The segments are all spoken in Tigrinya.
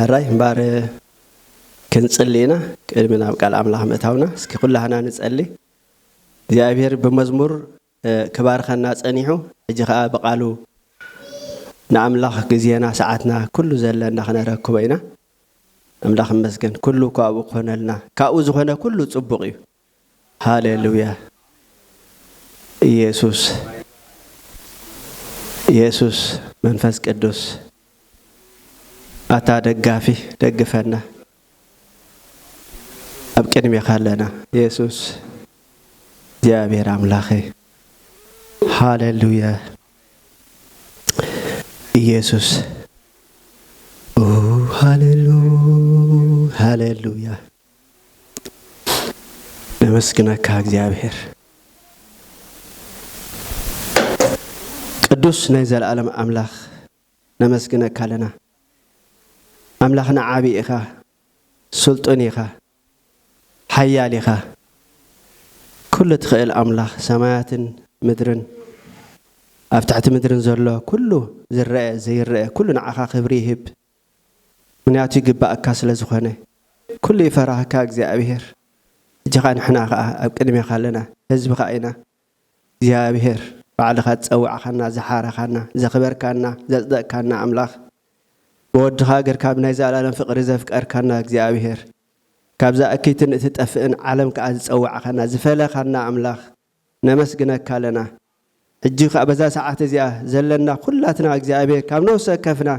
ሕራይ እምበር ክንጽሊ ኢና ቅድሚ ናብ ቃል ኣምላኽ ምእታውና እስኪ ኩላህና ንጸሊ እግዚኣብሔር ብመዝሙር ክባርኸና ጸኒሑ ሕጂ ከኣ ብቃሉ ንኣምላኽ ግዜና ሰዓትና ኩሉ ዘለና ክነረክቦ ኢና ኣምላኽ ይመስገን ኩሉ እኮ ኣብኡ ክኾነልና ካብኡ ዝኾነ ኩሉ ጽቡቕ እዩ። ሃሌሉያ ኢየሱስ ኢየሱስ መንፈስ ቅዱስ ኣታ ደጋፊ ደግፈና ኣብ ቅድሜኻ ኣለና ኢየሱስ እግዚኣብሔር ኣምላኸ ሃሌሉያ ኢየሱስ ሃሌሉ ሃሌሉያ ነመስግነካ እግዚኣብሔር ቅዱስ ናይ ዘለኣለም ኣምላኽ ነመስግነካ ኣለና ኣምላኽና ዓቢ ኢኻ ስልጡን ኢኻ ሓያል ኢኻ ኩሉ ትኽእል ኣምላኽ ሰማያትን ምድርን ኣብ ትሕቲ ምድርን ዘሎ ኩሉ ዝረአ ዘይረአ ኩሉ ንዓኻ ክብሪ ይህብ ምክንያቱ ይግበኣካ ስለ ዝኮነ ኩሉ ይፈራህካ እግዚኣብሔር ሕጂካ ንሕና ከኣ ኣብ ቅድሜካ ኣለና ህዝብካ ኢና እግዚኣብሔር ባዕልካ ዝጸዋዕካና ዝሓረካና ዘክበርካና ዘጽደቅካና ኣምላክ ብወድካ ገርካ ብናይ ዘኣላለም ፍቅሪ ዘፍቀርካና እግዚኣብሔር ካብዛ እክይትን እትጠፍእን ዓለም ከኣ ዝጸዋዕካና ዝፈለካና ኣምላክ ነመስግነካ ኣለና ሕጂ ከኣ በዛ ሰዓት እዚኣ ዘለና ኩላትና እግዚኣብሔር ካብ ነፍሲ ወከፍና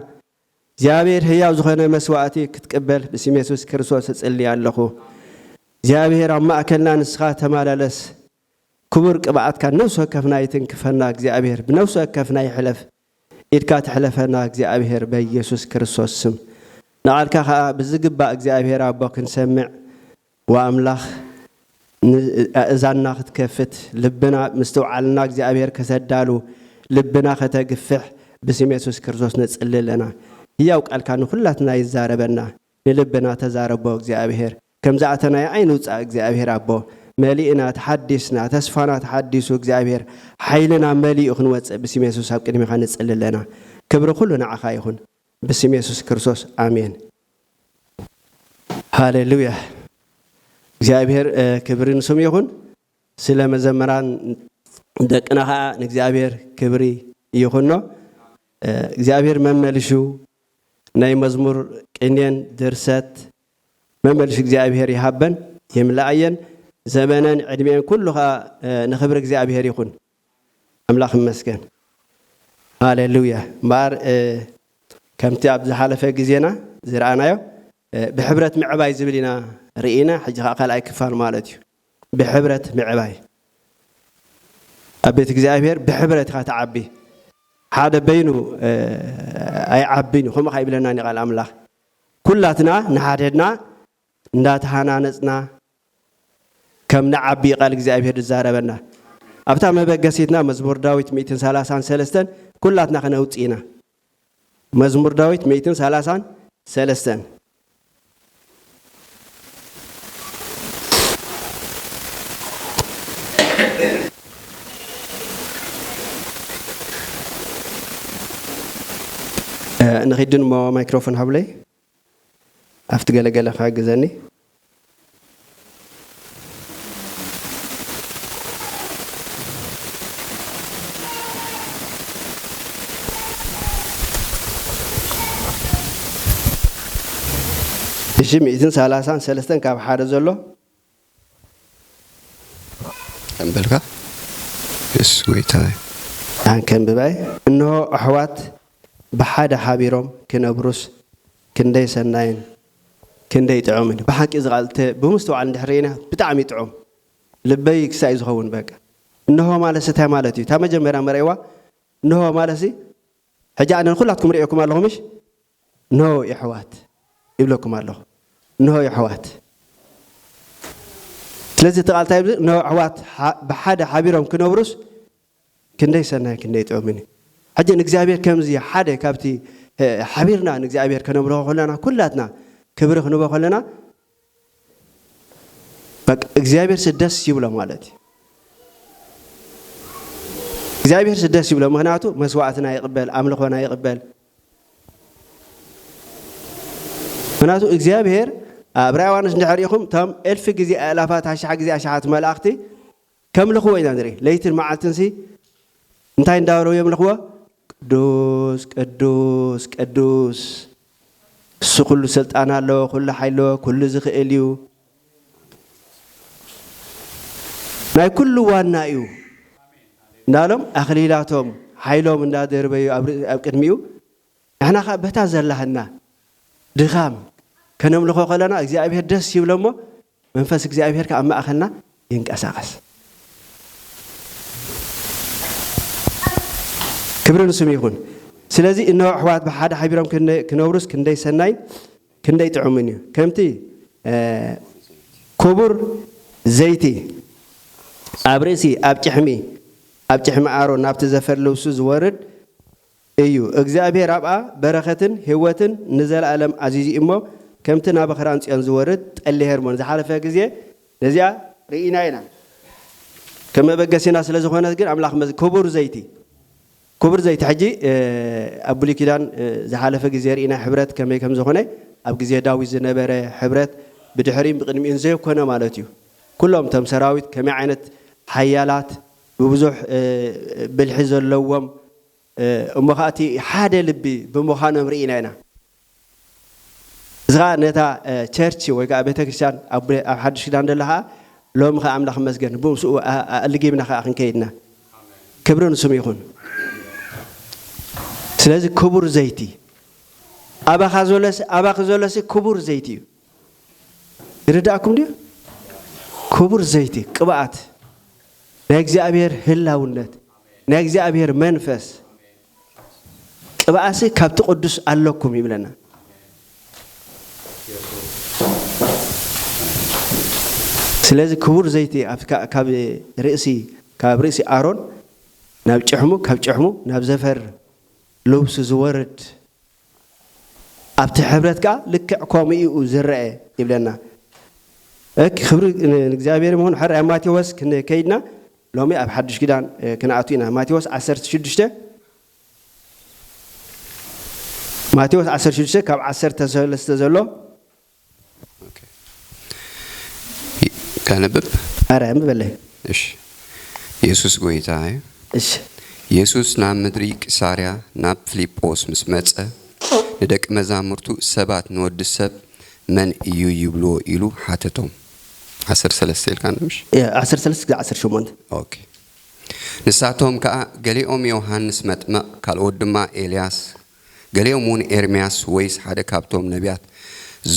እግዚኣብሔር ህያው ዝኮነ መስዋእቲ ክትቅበል ብስም የሱስ ክርስቶስ እጽሊ ኣለኩ እግዚኣብሔር ኣብ ማእከልና ንስካ ተማላለስ ክቡር ቅብኣትካ ነፍሲ ወከፍና ይትንክፈና እግዚኣብሔር ብነፍሲ ወከፍና ይሕለፍ ኢድካ ትሕለፈና እግዚኣብሔር በኢየሱስ ክርስቶስ ስም ንቓልካ ከኣ ብዝግባእ እግዚኣብሔር ኣቦ ክንሰምዕ ወኣምላኽ ን ኣእዛንና ክትከፍት ልብና ምስትውዓልና እግዚኣብሔር ከተዳሉ ልብና ከተግፍሕ ብስም የሱስ ክርስቶስ ንጽሊ ኣለና ህያው ቃልካ ንኩላትና ይዛረበና። ንልብና ተዛረቦ እግዚኣብሔር ከምዝኣተናዮ ኣይንውፃእ እግዚኣብሔር ኣቦ መሊእና ተሓዲስና ተስፋና ተሓዲሱ እግዚኣብሔር ሓይልና መሊኡ ክንወፅእ ብስም የሱስ ኣብ ቅድሜካ ንፅሊ ኣለና ክብሪ ኩሉ ንዓካ ይኩን ብስም የሱስ ክርስቶስ ኣሜን ሃሌሉያ እግዚኣብሔር ክብሪ ንስሙ ይኩን ስለ መዘመራን ደቅና ከዓ ንእግዚኣብሔር ክብሪ ይኩኖ እግዚኣብሔር መመልሹ ናይ መዝሙር ቅኔን ድርሰት መመልሽ እግዚኣብሔር ይሃበን ይምላኣየን ዘበነን ዕድሜኤን ኩሉ ከኣ ንክብሪ እግዚኣብሔር ይኩን ኣምላክ ይመስገን ሃሌሉያ እምበኣር ከምቲ ኣብ ዝሓለፈ ግዜና ዝረኣናዮ ብሕብረት ምዕባይ ዝብል ኢና ርኢና ሕጂ ከኣ ካልኣይ ክፋል ማለት እዩ ብሕብረት ምዕባይ ኣብ ቤት እግዚኣብሔር ብሕብረት ኢኻ ትዓቢ ሓደ በይኑ ኣይዓብን እዩ ከምኡ ከ ይብለናን እዩ ቃል ኣምላኽ ኩላትና ንሓድሕድና እንዳተሃናነጽና ከም ንዓቢ እዩ ቃል እግዚኣብሔር ዝዛረበና ኣብታ መበገሲትና መዝሙር ዳዊት ሚእትን ሰላሳን ሰለስተን ኩላትና ክነውጽእ ኢና መዝሙር ዳዊት ሚእትን ሰላሳን ሰለስተን። ንኺድን እሞ ማይክሮፎን ሃቡለይ። ኣፍቲ ገለ ገለ ክሕግዘኒ። እሺ ሚእትን ሰላሳን ሰለስተን ካብ ሓደ ዘሎ። ኣንበልካ የሱስ ጎይታ እዩ። ኣን ከንብባይ እንሆ ኣሕዋት ብሓደ ሓቢሮም ክነብሩስ ክንደይ ሰናይን ክንደይ ጥዑምን ብሓቂ እዚ ቃል እተ ብምስትውዓል እንድሕር ርኢና ብጣዕሚ ጥዑም ልበይ ክሳይ እዩ ዝኸውን በቃ እንሆ ማለትሲ እንታይ ማለት እዩ እታ መጀመርያ መርኣይዋ እንሆ ማለትሲ ሕጂ ኣነ ንኩላትኩም ርእየኩም ኣለኹ ምሽ እንሆ የሕዋት ይብለኩም ኣለኹ እንሆ የሕዋት ስለዚ እቲ ቃል እንታይ ይብል እንሆ ኣሕዋት ብሓደ ሓቢሮም ክነብሩስ ክንደይ ሰናይ ክንደይ ጥዑምን እዩ ሕጂ ንእግዚኣብሔር ከምዚ ሓደ ካብቲ ሓቢርና ንእግዚኣብሔር ከነምልኾ ከለና ኩላትና ክብሪ ክንቦ ከለና በቃ እግዚኣብሔር ስደስ ይብሎ ማለት እዩ እግዚኣብሔር ስደስ ይብሎ ምክንያቱ መስዋዕትና ይቅበል ኣምልኾና ይቅበል ምክንያቱ እግዚኣብሔር ኣብ ራእይ ዮሃንስ እንድሕር ኢኹም እቶም እልፊ ግዜ ኣእላፋት ኣሽሓ ግዜ ኣሽሓት መላእኽቲ ከምልኽዎ ኢና ንርኢ ለይትን መዓልትን ሲ እንታይ እንዳበሉ የምልኽዎ ቅዱስ ቅዱስ ቅዱስ እሱ ኩሉ ስልጣን ኣለዎ ኩሉ ሓይሊ ኣለዎ ኩሉ ዝኽእል እዩ ናይ ኩሉ ዋና እዩ እንዳሎም ኣኽሊላቶም ሓይሎም እንዳደርበዩ ኣብ ቅድሚኡ ንሕና ከዓ በታ ዘላህና ድኻም ከነምልኾ ከለና እግዚኣብሔር ደስ ይብለሞ መንፈስ እግዚኣብሄር ከኣ ኣብ ማእከልና ይንቀሳቐስ። ክብሪ ንስሙ ይኹን። ስለዚ እንሆ ኣሕዋት ብሓደ ሓቢሮም ክነብሩስ ክንደይ ሰናይን ክንደይ ጥዑምን እዩ። ከምቲ ክቡር ዘይቲ ኣብ ርእሲ ኣብ ጭሕሚ ኣብ ጭሕሚ ኣሮን ናብቲ ዘፈር ልብሱ ዝወርድ፣ እዩ እግዚኣብሔር ኣብኣ በረከትን ህወትን ንዘላእለም ኣዚዙ እዩ እሞ ከምቲ ናበክራንጽዮን ዝወርድ ጠሊ ሄርሞን ዝሓለፈ ግዜ ነዚኣ ርኢና ኢና ከም መበገሲና ስለ ዝኮነት ግን ኣምላክ መዚ ክቡር ዘይቲ ክቡር ዘይቲ ሕጂ ኣብ ብሉይ ኪዳን ዝሓለፈ ግዜ ርኢና ሕብረት ከመይ ከም ዝኮነ ኣብ ግዜ ዳዊት ዝነበረ ሕብረት ብድሕሪን ብቅድሚኡን ዘየኮነ ማለት እዩ ኩሎም እቶም ሰራዊት ከመይ ዓይነት ሓያላት ብብዙሕ ብልሒ ዘለዎም እሞ ኸኣ እቲ ሓደ ልቢ ብምዃኖም ርኢና ኢና። እዚ ኸኣ ነታ ቸርች ወይ ከኣ ቤተ ክርስቲያን ኣብ ሓድሽ ኪዳን ዘላ ኸኣ ሎሚ ኸኣ ኣምላኽ ይመስገን ብምስኡ ኣልጊብና ኸኣ ክንከይድ ኢና። ክብሪ ንስሙ ይኹን። ስለዚ ክቡር ዘይቲ ኣባኻ ዘሎስ ኣባኺ ዘሎሲ ክቡር ዘይቲ እዩ። ይርዳእኩም ድዩ? ክቡር ዘይቲ ቅብኣት ናይ እግዚኣብሔር ህላውነት ናይ እግዚኣብሔር መንፈስ ቅብኣሲ ካብቲ ቅዱስ ኣለኩም ይብለና። ስለዚ ክቡር ዘይቲ ካብ ርእሲ ካብ ርእሲ ኣሮን ናብ ጭሕሙ ካብ ጭሕሙ ናብ ዘፈር ልብሱ ዝወርድ ኣብቲ ሕብረት ከኣ ልክዕ ከምኡ ኢዩ ዝረኣ ይብለና። እክ ክብሪ ንእግዚኣብሔር ይኹን ሕራይ ኣብ ማቴዎስ ክንከይድና ሎሚ ኣብ ሓዱሽ ኪዳን ክንኣቱ ኢና ማቴዎስ ዓሰርተ ሽዱሽተ ማቴዎስ ዓሰርተ ሽዱሽተ ካብ ዓሰርተ ሰለስተ ዘሎ ከንብብ ኣረ ኣንብበለይ እሺ የሱስ ጎይታ እዩ እሺ የሱስ ናብ ምድሪ ቂሳርያ ናብ ፍሊጶስ ምስ መጸ ንደቂ መዛሙርቱ ሰባት ንወዲ ሰብ መን እዩ ይብልዎ ኢሉ ሓተቶም ዓሰርተ ሰለስተ ኢልካ ንብሽ ዓሰርተ ሰለስተ ክሳዕ ዓሰርተ ሸሞንተ ኦኬ ንሳቶም ከኣ ገሊኦም ዮሃንስ መጥመቕ ካልኦት ድማ ኤልያስ ገሊኦም እውን ኤርምያስ ወይስ ሓደ ካብቶም ነብያት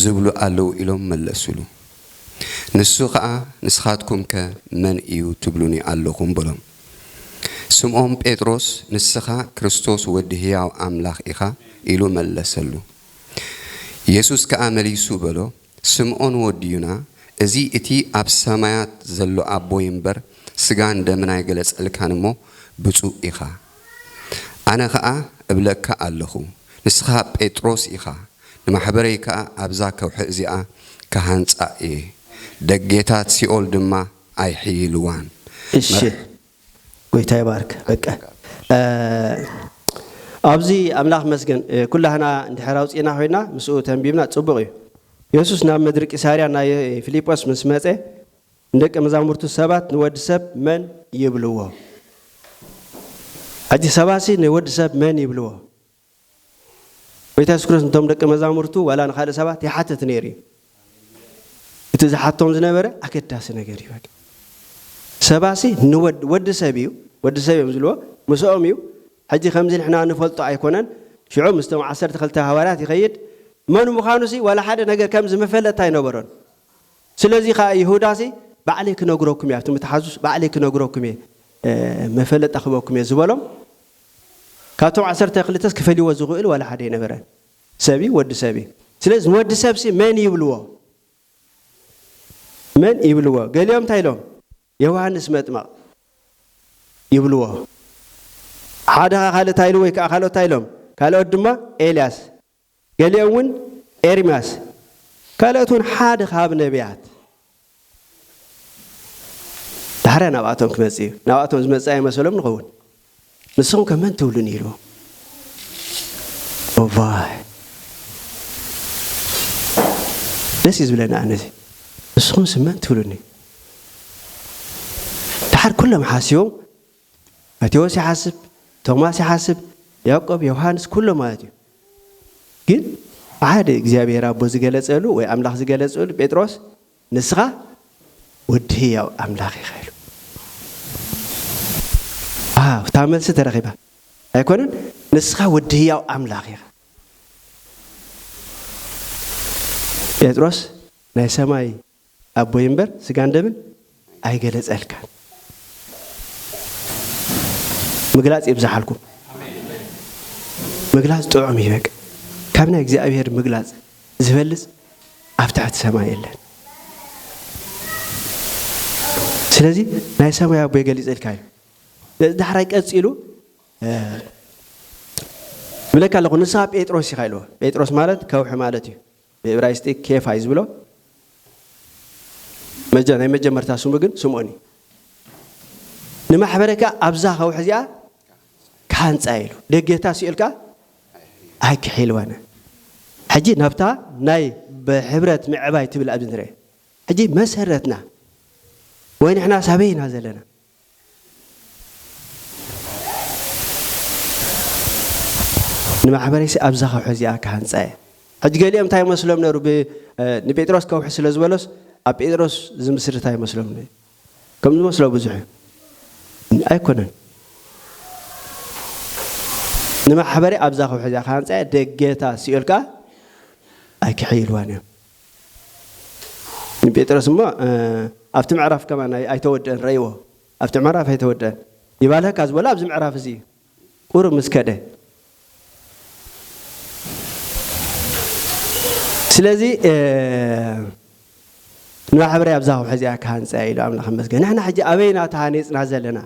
ዝብሉ ኣለዉ ኢሎም መለሱሉ። ንሱ ኸኣ ንስኻትኩምከ መን እዩ ትብሉኒ ኣሎኹም? በሎም። ስምዖን ጴጥሮስ ንስኻ ክርስቶስ ወዲ ህያው ኣምላኽ ኢኻ ኢሉ መለሰሉ። የሱስ ከኣ መሊሱ በሎ፣ ስምኦን ወዲ ዩና እዚ እቲ ኣብ ሰማያት ዘሎ ኣቦይ እምበር ስጋን ደምን ኣይገለጸልካን እሞ ብጹእ ኢኻ። ኣነ ከኣ እብለካ ኣለኹ ንስኻ ጴጥሮስ ኢኻ ንማሕበረይ ከኣ ኣብዛ ከውሒ እዚኣ ክሃንጻ እየ ደጌታት ሲኦል ድማ ኣይሕይልዋን። እሺ ጎይታ ይባርክ በቀ ኣብዚ ኣምላኽ መስገን ኩላህና እንድሕር ኣውጺእና ኮይና ምስኡ ተንቢብና ጽቡቅ እዩ የሱስ ናብ ምድሪ ቂሳርያ ናይ ፊሊጶስ ምስ መጸ ንደቀ መዛሙርቱ ሰባት ንወዲ ሰብ መን ይብልዎ ሕጂ ሰባሲ ንወዲ ሰብ መን ይብልዎ ጎይታ የሱስ ክርስቶስ ንቶም ደቂ መዛሙርቱ ዋላ ንኻልእ ሰባት ይሓትት ነይሩ እዩ። እቲ ዝሓቶም ዝነበረ ኣገዳሲ ነገር እዩ። ሰባሲ ንወድ ወዲ ሰብ እዩ ወዲ ሰብ እዮም ዝልዎ ምስኦም እዩ ሕጂ ከምዚ ንሕና ንፈልጦ ኣይኮነን ሽዑ ምስቶም ዓሰርተ ክልተ ሃዋርያት ይኸይድ መን ምዃኑ ሲ ዋላ ሓደ ነገር ከምዚ መፈለጥታ ኣይነበሮን ስለዚ ከዓ ይሁዳ ሲ ባዕለይ ክነግረኩም እየ ኣብቲ ምትሓዙስ ባዕለይ ክነግረኩም እየ መፈለጣ ክበኩም እየ ዝበሎም ካብቶም ዓሰርተ ክልተስ ክፈልይዎ ዝኽእል ዋላ ሓደ ኣይነበረን። ሰብ እዩ ወዲ ሰብ እዩ። ስለዚ ንወዲ ሰብሲ መን ይብልዎ? መን ይብልዎ? ገሊኦም እንታይ ኢሎም? ዮውሃንስ መጥምቕ ይብልዎ። ሓደ ከኣ ካልእ እንታይ ኢሉ ወይ ከኣ ካልኦት እንታይ ኢሎም? ካልኦት ድማ ኤልያስ ገሊኦም እውን ኤርምያስ ካልኦት እውን ሓደ ካብ ነቢያት ዳሕራይ ናብኣቶም ክመጽእ እዩ ናብኣቶም ዝመጽእ ኣይመሰሎም ንኸውን ንስኹም ከ መን ትብሉን ኢሉ እዋይ ደስ እዩ ዝብለና ኣነዚ ንስኹም ስመን ትብሉኒ ድሓር ኩሎም ሓሲቦም ማቴዎስ ይሓስብ፣ ቶማስ ይሓስብ፣ ያእቆብ፣ ዮውሃንስ ኩሎም ማለት እዩ። ግን ሓደ እግዚኣብሄር ኣቦ ዝገለጸሉ ወይ ኣምላኽ ዝገለጸሉ ጴጥሮስ ንስኻ ወዲ ህያው ኣምላኽ ኢኻ ኢሉ። ኣሃ እታ መልሲ ተረኺባ ኣይኮነን ንስኻ ወዲ ህያው ኣምላኽ ኢኻ። ጴጥሮስ ናይ ሰማይ ኣቦይ እምበር ስጋን ደምን ኣይገለጸልካን። ምግላጽ የብዛሓልኩም። ምግላጽ ጥዑም እዩ በቃ ካብ ናይ እግዚኣብሔር ምግላጽ ዝበልጽ ኣብ ትሕቲ ሰማይ የለን። ስለዚ ናይ ሰማይ ኣቦይ ገሊጸልካ እዩ። ነዚ ዳሕራይ ቀጺሉ ብለካ ኣለኹ ንስኻ ጴጥሮስ ኢኻ ኢልዎ። ጴጥሮስ ማለት ከውሒ ማለት እዩ። ብእብራይስጢ ኬፋ እዩ ዝብሎ፣ ናይ መጀመርታ ስሙ ግን ስምኦን እዩ። ንማሕበረ ከኣ ኣብዛ ከውሒ እዚኣ ክሃንጻ እየ ኢሉ፣ ደጌታ ሲኦል ከኣ ኣይክሒልዋን። ሕጂ ናብታ ናይ ብሕብረት ምዕባይ ትብል ኣብዚ ንርኤ። ሕጂ መሰረትና ወይ ንሕናስ ኣበይ ኢና ዘለና? ንማሕበረይሲ ኣብዛ ከውሒ እዚኣ ክሃንጻ እየ። ሕጂ ገሊኦም እንታይ ይመስሎም ነሩ ብ ንጴጥሮስ ከውሒ ስለ ዝበሎስ ኣብ ጴጥሮስ ዝምስርታ ይመስሎም ነዩ። ከም ዝመስሎ ብዙሕ እዩ። ኣይኮነን። ንማሕበረይ ኣብዛ ከውሒ እዚኣ ክሃንጻ እየ ደገታ ሲኦል ከኣ ኣይክሕይልዋን እዮም። ንጴጥሮስ እሞ ኣብቲ ምዕራፍ ከማን ኣይተወድእን ረእይዎ ኣብቲ ምዕራፍ ኣይተወድእን ይባልሀካ ዝበሎ ኣብዚ ምዕራፍ እዚ እዩ ቁሩብ ምስ ከደ ስለዚ ንማሕበረይ ኣብዛ ከውሒ እዚኣ ክሃንፀያ ኢሉ ኣምላኽ መስገን ንሕና ሕጂ ኣበይና ተሃኔፅና ዘለና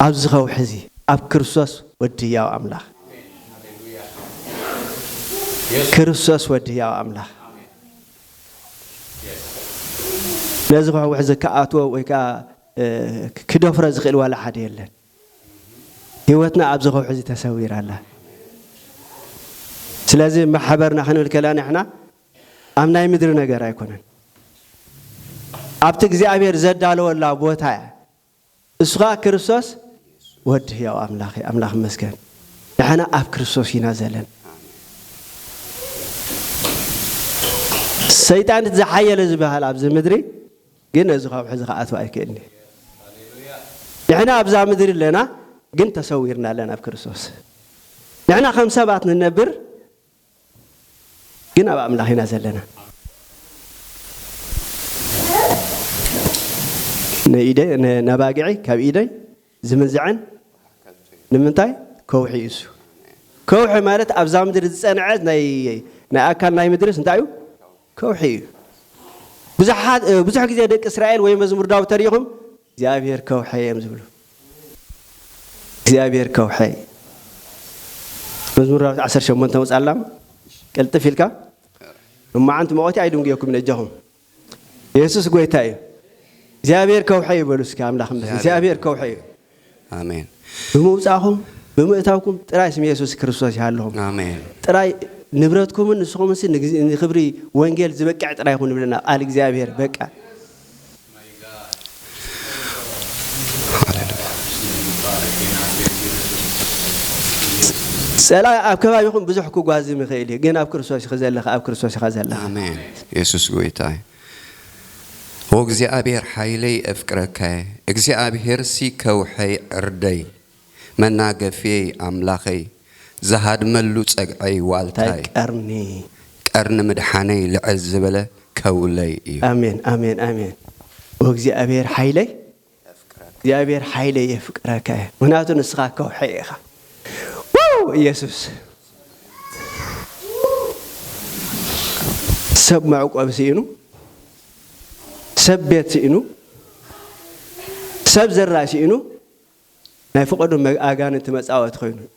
ኣብዚ ከውሒ እዚ ኣብ ክርስቶስ ወዲ ህያው ኣምላኽ ክርስቶስ ወዲ ህያው ኣምላኽ ነዚ ከውሒ እዚ ክኣትዎ ወይ ከዓ ክደፍሮ ዝኽእል ዋላ ሓደ የለን። ህይወትና ኣብዚ ከውሒ እዚ ተሰዊራ ኣላ። ስለዚ ማሕበርና ክንብል ከለና ንሕና ኣብ ናይ ምድሪ ነገር ኣይኮነን ኣብቲ እግዚኣብሔር ዘዳለወላ ቦታ እያ እሱ ከኣ ክርስቶስ ወዲ ሕያው ኣምላኽ እዩ ኣምላኽ መስገን ንሕና ኣብ ክርስቶስ ኢና ዘለን ሰይጣን እቲ ዝሓየለ ዝበሃል ኣብዚ ምድሪ ግን ነዚ ከውሒ እዚ ከኣትው ኣይክእልኒ ንሕና ኣብዛ ምድሪ ኣለና ግን ተሰዊርና ኣለና ኣብ ክርስቶስ ንሕና ከም ሰባት ንነብር ግን ኣብ ኣምላኽ ኢና ዘለና ነባጊዐይ ካብ ኢደይ ዝምንዝዐን ንምንታይ ከውሒ እዩ እሱ ከውሒ ማለት ኣብዛ ምድሪ ዝፀንዐት ናይ ኣካል ናይ ምድርስ እንታይ እዩ ከውሒ እዩ። ብዙሓት ብዙሕ ግዜ ደቂ እስራኤል ወይ መዝሙር ዳዊት ተሪኢኹም እግዚኣብሄር ከውሐይ እዮም ዝብሉ። እግዚኣብሄር ከውሐይ መዝሙር ዳዊት ዓሰርተ ሸሞንተ መጻላ ቅልጥፍ ኢልካ እማዓንቲ መቆቲ ኣይድንጉየኩም ነጃኹም የሱስ ጎይታ እዩ እግዚኣብሄር ከውሐይ ይበሉ እስኪ ኣምላኽ እምበር እግዚኣብሄር ከውሐይ እዩ ኣሜን። ብምውጻእኹም ብምእታውኩም ጥራይ ስም የሱስ ክርስቶስ ይሃልኹም። ኣሜን። ጥራይ ንብረትኩምን ንስኹምንሲ ንክብሪ ወንጌል ዝበቅዕ ጥራይ ይኹን ይብለና ቃል እግዚኣብሄር በቃ። ጸላኢ ኣብ ከባቢኹም ብዙሕ ክጓዝም ይኽእል እዩ፣ ግን ኣብ ክርስቶስ ኢኺ ዘለኺ ኣብ ክርስቶስ ኢኻ ዘለኻ። ኣሜን። የሱስ ጎይታ እዩ። ኦእግዚኣብሔር ሓይለይ ኤፍቅረካየ እግዚኣብሔርሲ ከውሐይ ዕርደይ መናገፍየይ ኣምላኸይ ዝሃድመሉ ጸግዐይ ዋልታይ ቀርኒ ምድሓነይ ልዕል ዝበለ ከውለይ እዩ። ኣሜን ኣሜን ኣሜን ኦእግዚኣብሔር ሓይለይ እግዚኣብሔር ሓይለይ የፍቅረካ እየ ምክንያቱ ንስካ ከውሒ ኢካ ዋው ኢየሱስ ሰብ መዕቆቢ ስኢኑ ሰብ ቤት ስኢኑ ሰብ ዘራይ ስኢኑ ናይ ፍቀዱ ኣጋንንቲ መጻወቲ ኮይኑ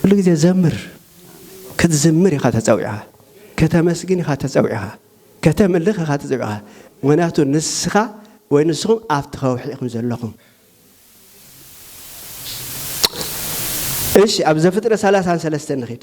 ኩሉ ግዜ ዘምር ክትዝምር ኢኻ ተጸዊዕኻ ከተመስግን ኢኻ ተጸዊዕኻ ከተምልኽ ኢኻ ተጸዊዕኻ ምክንያቱ ንስኻ ወይ ንስኹም ኣብቲ ከውሒ ኢኹም ዘለኹም እሺ ኣብ ዘፍጥረት ሰላሳን ሰለስተን ንኺድ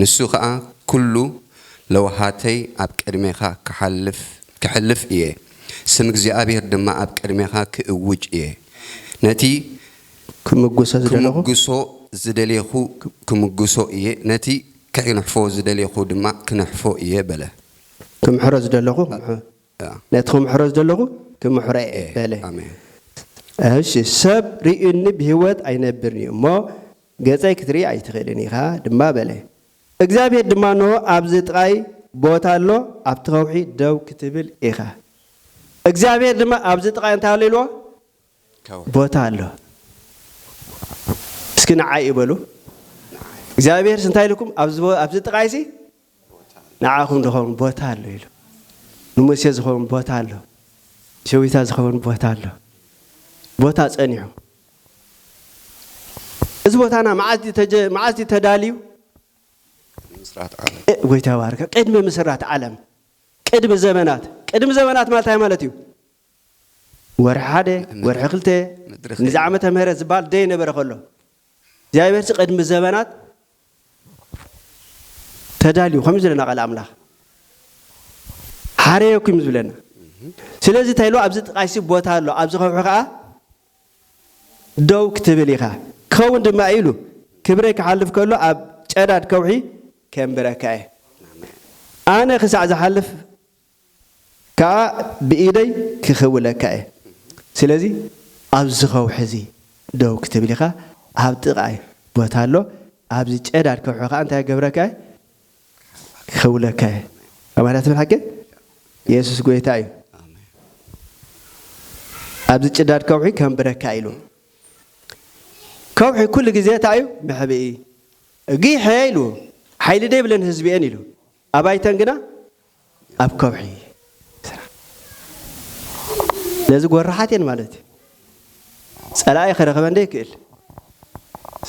ንሱ ከኣ ኩሉ ለውሃተይ ኣብ ቅድሜኻ ክሓልፍ ከሕልፍ እየ፣ ስም እግዚኣብሄር ድማ ኣብ ቅድሜኻ ክእውጅ እየ፣ ነቲ ክምጉሶ ዝደሌኹ ክምጉሶ እየ፣ ነቲ ክሕንሕፎ ዝደሌኹ ድማ ክንሕፎ እየ በለ። ክምሕሮ ዝደለኹ ክምሕሮ ነቲ ክምሕሮ ዝደለኹ ክምሕሮ እየ በለ። ኣሜን። እሺ ሰብ ርእዩኒ ብህይወት ኣይነብርን እዩ እሞ ገጸይ ክትርኢ ኣይትኽእልን ኢኻ ድማ በለ። እግዚኣብሄር ድማ፣ እንሆ፣ ኣብዚ ጥቓይ ቦታ ኣሎ፣ ኣብቲ ኸውሒ ደው ክትብል ኢኻ። እግዚኣብሄር ድማ፣ ኣብዚ ጥቓይ እንታይ ኣሎ ኢልዎ? ከውሒ። ቦታ ኣሎ። እስኪ ንዓይ'ዩ በሉ። እግዚኣብሄርሲ እንታይ ኢሉኩም? ኣብዚ ጥቓይሲ ንዓኹም ዝኸውን ቦታ ኣሎ ኢሉ። ንሙሴ ዝኸውን ቦታ ኣሎ፣ ንሸዊታ ዝኸውን ቦታ ኣሎ፣ ቦታ ጸኒሑ። እዚ ቦታና መዓስ ድዩ ተጀ መዓስ ድዩ ተዳልዩ? ምስራት ዓለም እ ጎይታ ይባርካ ቅድሚ ምስራት ዓለም ቅድሚ ዘመናት ቅድሚ ዘመናት ማለት እንታይ ማለት እዩ? ወርሒ ሓደ ን- ወርሒ ክልተ ምድሪ ንዚ ከይነ ዓመተ ምህረት ዝበሃል ዘይነበረ ከሎ እግዚኣብሔርሲ ቅድሚ ዘመናት ተዳልዩ ከምዚ ዝለና ቃል ኣምላኽ ሓረየኩም እዩ ዝብለና ስለዚ እንታይ ኢሉ ኣብዚ ጥቃይሲ ቦታ ኣሎ ኣብዚ ከውሒ ከዓ ደው ክትብል ኢኻ ክኸውን ድማ ኢሉ ክብረይ ክሓልፍ ከሎ ኣብ ጨዳድ ከውሒ ከንብረካ እየ ኣነ ክሳዕ ዝሓልፍ ከኣ ብኢደይ ክኽውለካ እየ። ስለዚ ኣብዚ ከውሒ እዚ ደው ክትብል ኢኻ፣ ኣብ ጥቓይ ቦታ ኣሎ፣ ኣብዚ ጨዳድ ከውሒ ከኣ እንታይ ክገብረካ እየ? ክኽውለካ እየ። ኣማን እያ ትብል ሓቂ? የሱስ ጐይታ እዩ። ኣብዚ ጭዳድ ከውሒ ከንብረካ ኢሉ። ከውሒ ኩሉ ግዜ እንታይ እዩ? መሕብኢ። ጊሐ ኢሉ፣ ሓይሊ ደይብለን ህዝቢ እየን ኢሉ፣ ኣባይተን ግና ኣብ ከውሒ ስራሕ ነዚ ጎራሓት እየን ማለት እዩ ጸላኢ ክረኽበን ዘይክእል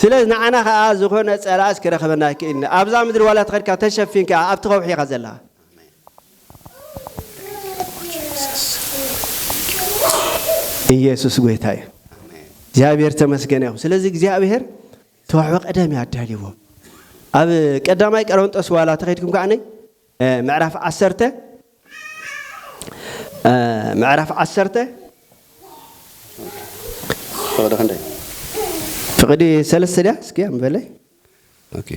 ስለዚ ንዓና ከዓ ዝኾነ ጸላእስ ክረኽበና ኣይክእልን ኣብዛ ምድሪ ዋላ ተኸድካ ተሸፊን ከዓ ኣብቲ ከውሒ ኢኻ ዘለኻ ኢየሱስ ጎይታ እዩ እግዚኣብሔር ተመስገነ ይኹን ስለዚ እግዚኣብሔር ተዋሕበ ቀደም ያዳልዎ ኣብ ቀዳማይ ቀረንጦስ ዋላ ተኸድኩም ከዓ ምዕራፍ ዓሰርተ ምዕራፍ ዓሰርተ ፍቕዲ ክንደይ ፍቕዲ ሰለስተ ድያ እስኪ ኣንበለይ ኦኬ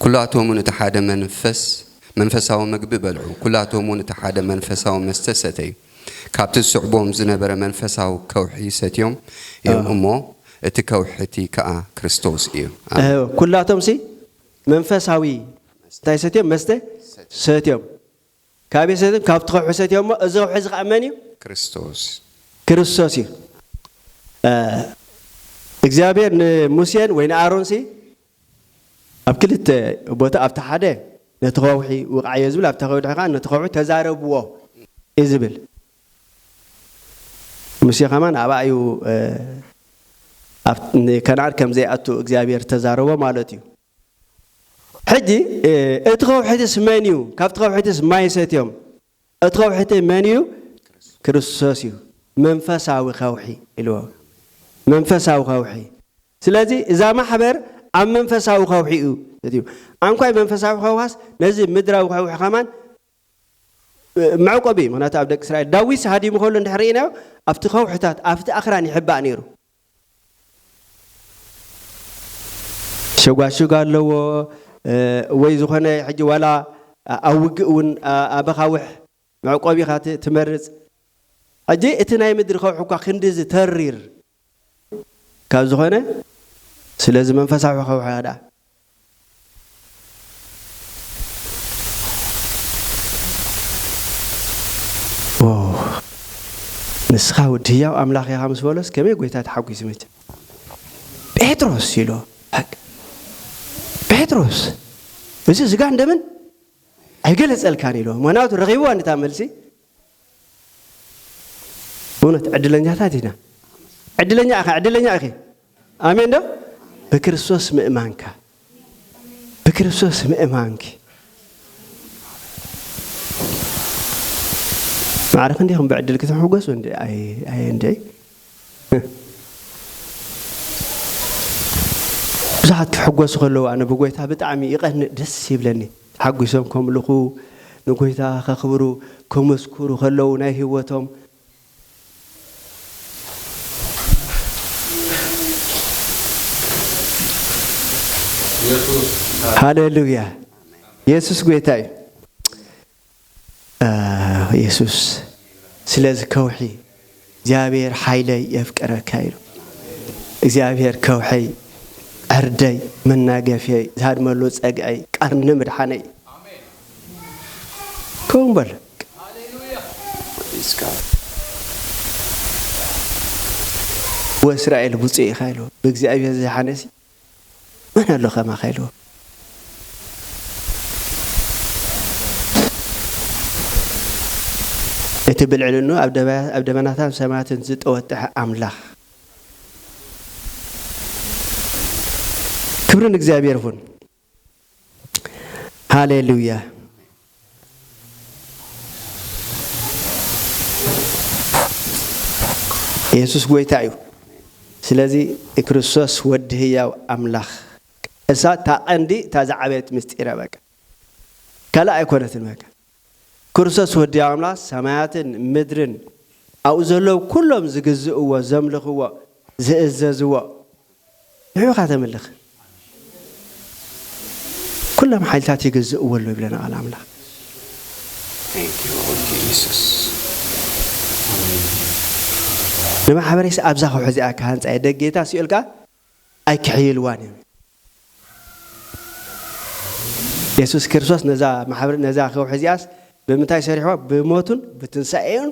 ኩላቶምን እቲ ሓደ መንፈስ መንፈሳዊ ምግቢ በልዑ ኩላቶምን እቲ ሓደ መንፈሳዊ መስተ ሰተዩ ካብቲ ዝስዕቦም ዝነበረ መንፈሳዊ ከውሒ ሰትዮም እዮም እሞ እቲ ከውሒ እቲ ከኣ ክርስቶስ እዩ ኣሜን። ኩላቶም ሲ መንፈሳዊ እንታይ ሰትዮም? መስተ ሰትዮም። ካበይ ሰትዮም? ካብቲ ከውሒ ሰትዮሞ። እዚ ከውሒ እዚ ኸኣ መን እዩ? ክርስቶስ። ክርስቶስ እዩ። እግዚኣብሄር ንሙሴን ወይ ንኣሮንሲ ኣብ ክልተ ቦታ ኣብቲ ሓደ ነቲ ከውሒ ውቕዓዮ ዝብል ኣብታ ከውሒ ከኣ ነቲ ከውሒ ተዛረብዎ እዩ ዝብል። ሙሴ ከማን ኣብኣ እዩ ንከነኣን ከም ዘይኣቱ እግዚኣብሔር እተዛረቦ ማለት እዩ። ሕጂ እቲ ከውሒትስ መን እዩ? ካብቲ ከውሒትስ ማይ ሰትዮም። እቲ ከውሒቲ መን እዩ? ክርስቶስ እዩ። መንፈሳዊ ከውሒ ኢልዎ። መንፈሳዊ ከውሒ። ስለዚ እዛ ማሕበር ኣብ መንፈሳዊ ከውሒ እዩ ሰትዩ። ኣንኳይ መንፈሳዊ ከውሃስ ነዚ ምድራዊ ከውሒ ከማን መዕቆቢ እዩ፣ ምኽንያቱ ኣብ ደቂ እስራኤል ዳዊት ሃዲሙ ከሎ እንድሕር ርኢናዮ ኣብቲ ከውሕታት ኣብቲ ኣኽራን ይሕባእ ነይሩ። ሸጓሽግ ኣለዎ ወይ ዝኾነ ሕጂ ዋላ ኣብ ውግእ እውን ኣብ ኣኻውሕ መዕቆቢኻ ትመርጽ። ሕጂ እቲ ናይ ምድሪ ከውሒ እኳ ክንድዚ ተሪር ካብ ዝኾነ ስለዚ መንፈሳዊ ከውሕያ ደኣ ንስኻ ወዲ ህያው ኣምላኽ ኢኻ ምስ በሎስ ከመይ ጎይታ ተሓጒሱ መቸ ጴጥሮስ ኢሎ ጴጥሮስ እዚ ስጋን ደምን ኣይገለጸልካን ኢሎ ምክንያቱ ረኺብዋ ንታ መልሲ እውነት ዕድለኛታት ኢና። ዕድለኛ ኢኻ፣ ዕድለኛ ኢኺ። ኣሜን ዶ? ብክርስቶስ ምእማንካ፣ ብክርስቶስ ምእማንኪ ማዕረ ክንደይኹም ብዕድል ክትሕጎሱ እንዲ ኣይ እንዲ ብዙሓት ክሕጎሱ ከለዉ ኣነ ብጎይታ ብጣዕሚ ይቀንእ ደስ ይብለኒ ተሓጒሶም ከምልኹ ንጎይታ ከኽብሩ ከመስኩሩ ከለዉ ናይ ሂወቶም ሃለሉያ የሱስ ጎይታ እዩ። የሱስ ስለዚ ከውሒ እግዚኣብሔር ሓይለይ የፍቅረካ ኢሉ እግዚኣብሔር ከውሐይ ዕርደይ መናገፍየይ ዝሃድመሉ ጸግዐይ ቀርኒ ምድሓነይ ከምኡ በለ ወእስራኤል ብፁዕ ኢኻ ኢሉ ብእግዚኣብሔር ዝደሓነሲ መን ኣሎ ከማካ ኢልዎ። እቲ ብልዕልንኡ ኣብ ደባያ ኣብ ደበናታን ሰማያትን ዝጠወጠሐ ኣምላኽ ክብሪ ንእግዚኣብሔር ይኹን። ሃሌሉያ የሱስ ጎይታ እዩ ስለዚ ክርስቶስ ወዲ ህያው ኣምላኽ እሳ እታ ቀንዲ እታ ዝዓበየት ምስጢረ በቃ ካልእ ኣይኮነትን በቃ ክርስቶስ ወዲ ኣምላኽ ሰማያትን ምድርን ኣብኡ ዘለዉ ኩሎም ዝግዝእዎ ዘምልኽዎ ዝእዘዝዎ ንዑ ኢኻ ተምልኽ ኩሎም ሓይልታት ይግዝእዎ ኣለዉ ይብለና ቃል ኣምላኽ ንማሕበረሰብ ኣብዛ ከውሒ እዚኣ ክሃንፃ እየ ደጌታ ሲኦል ከዓ ኣይኪሕይልዋን እዮም። የሱስ ክርስቶስ ነዛ ማሕበር ነዛ ከውሒ እዚኣስ ብምንታይ ሰሪሕዋ? ብሞቱን ብትንሳኤኡን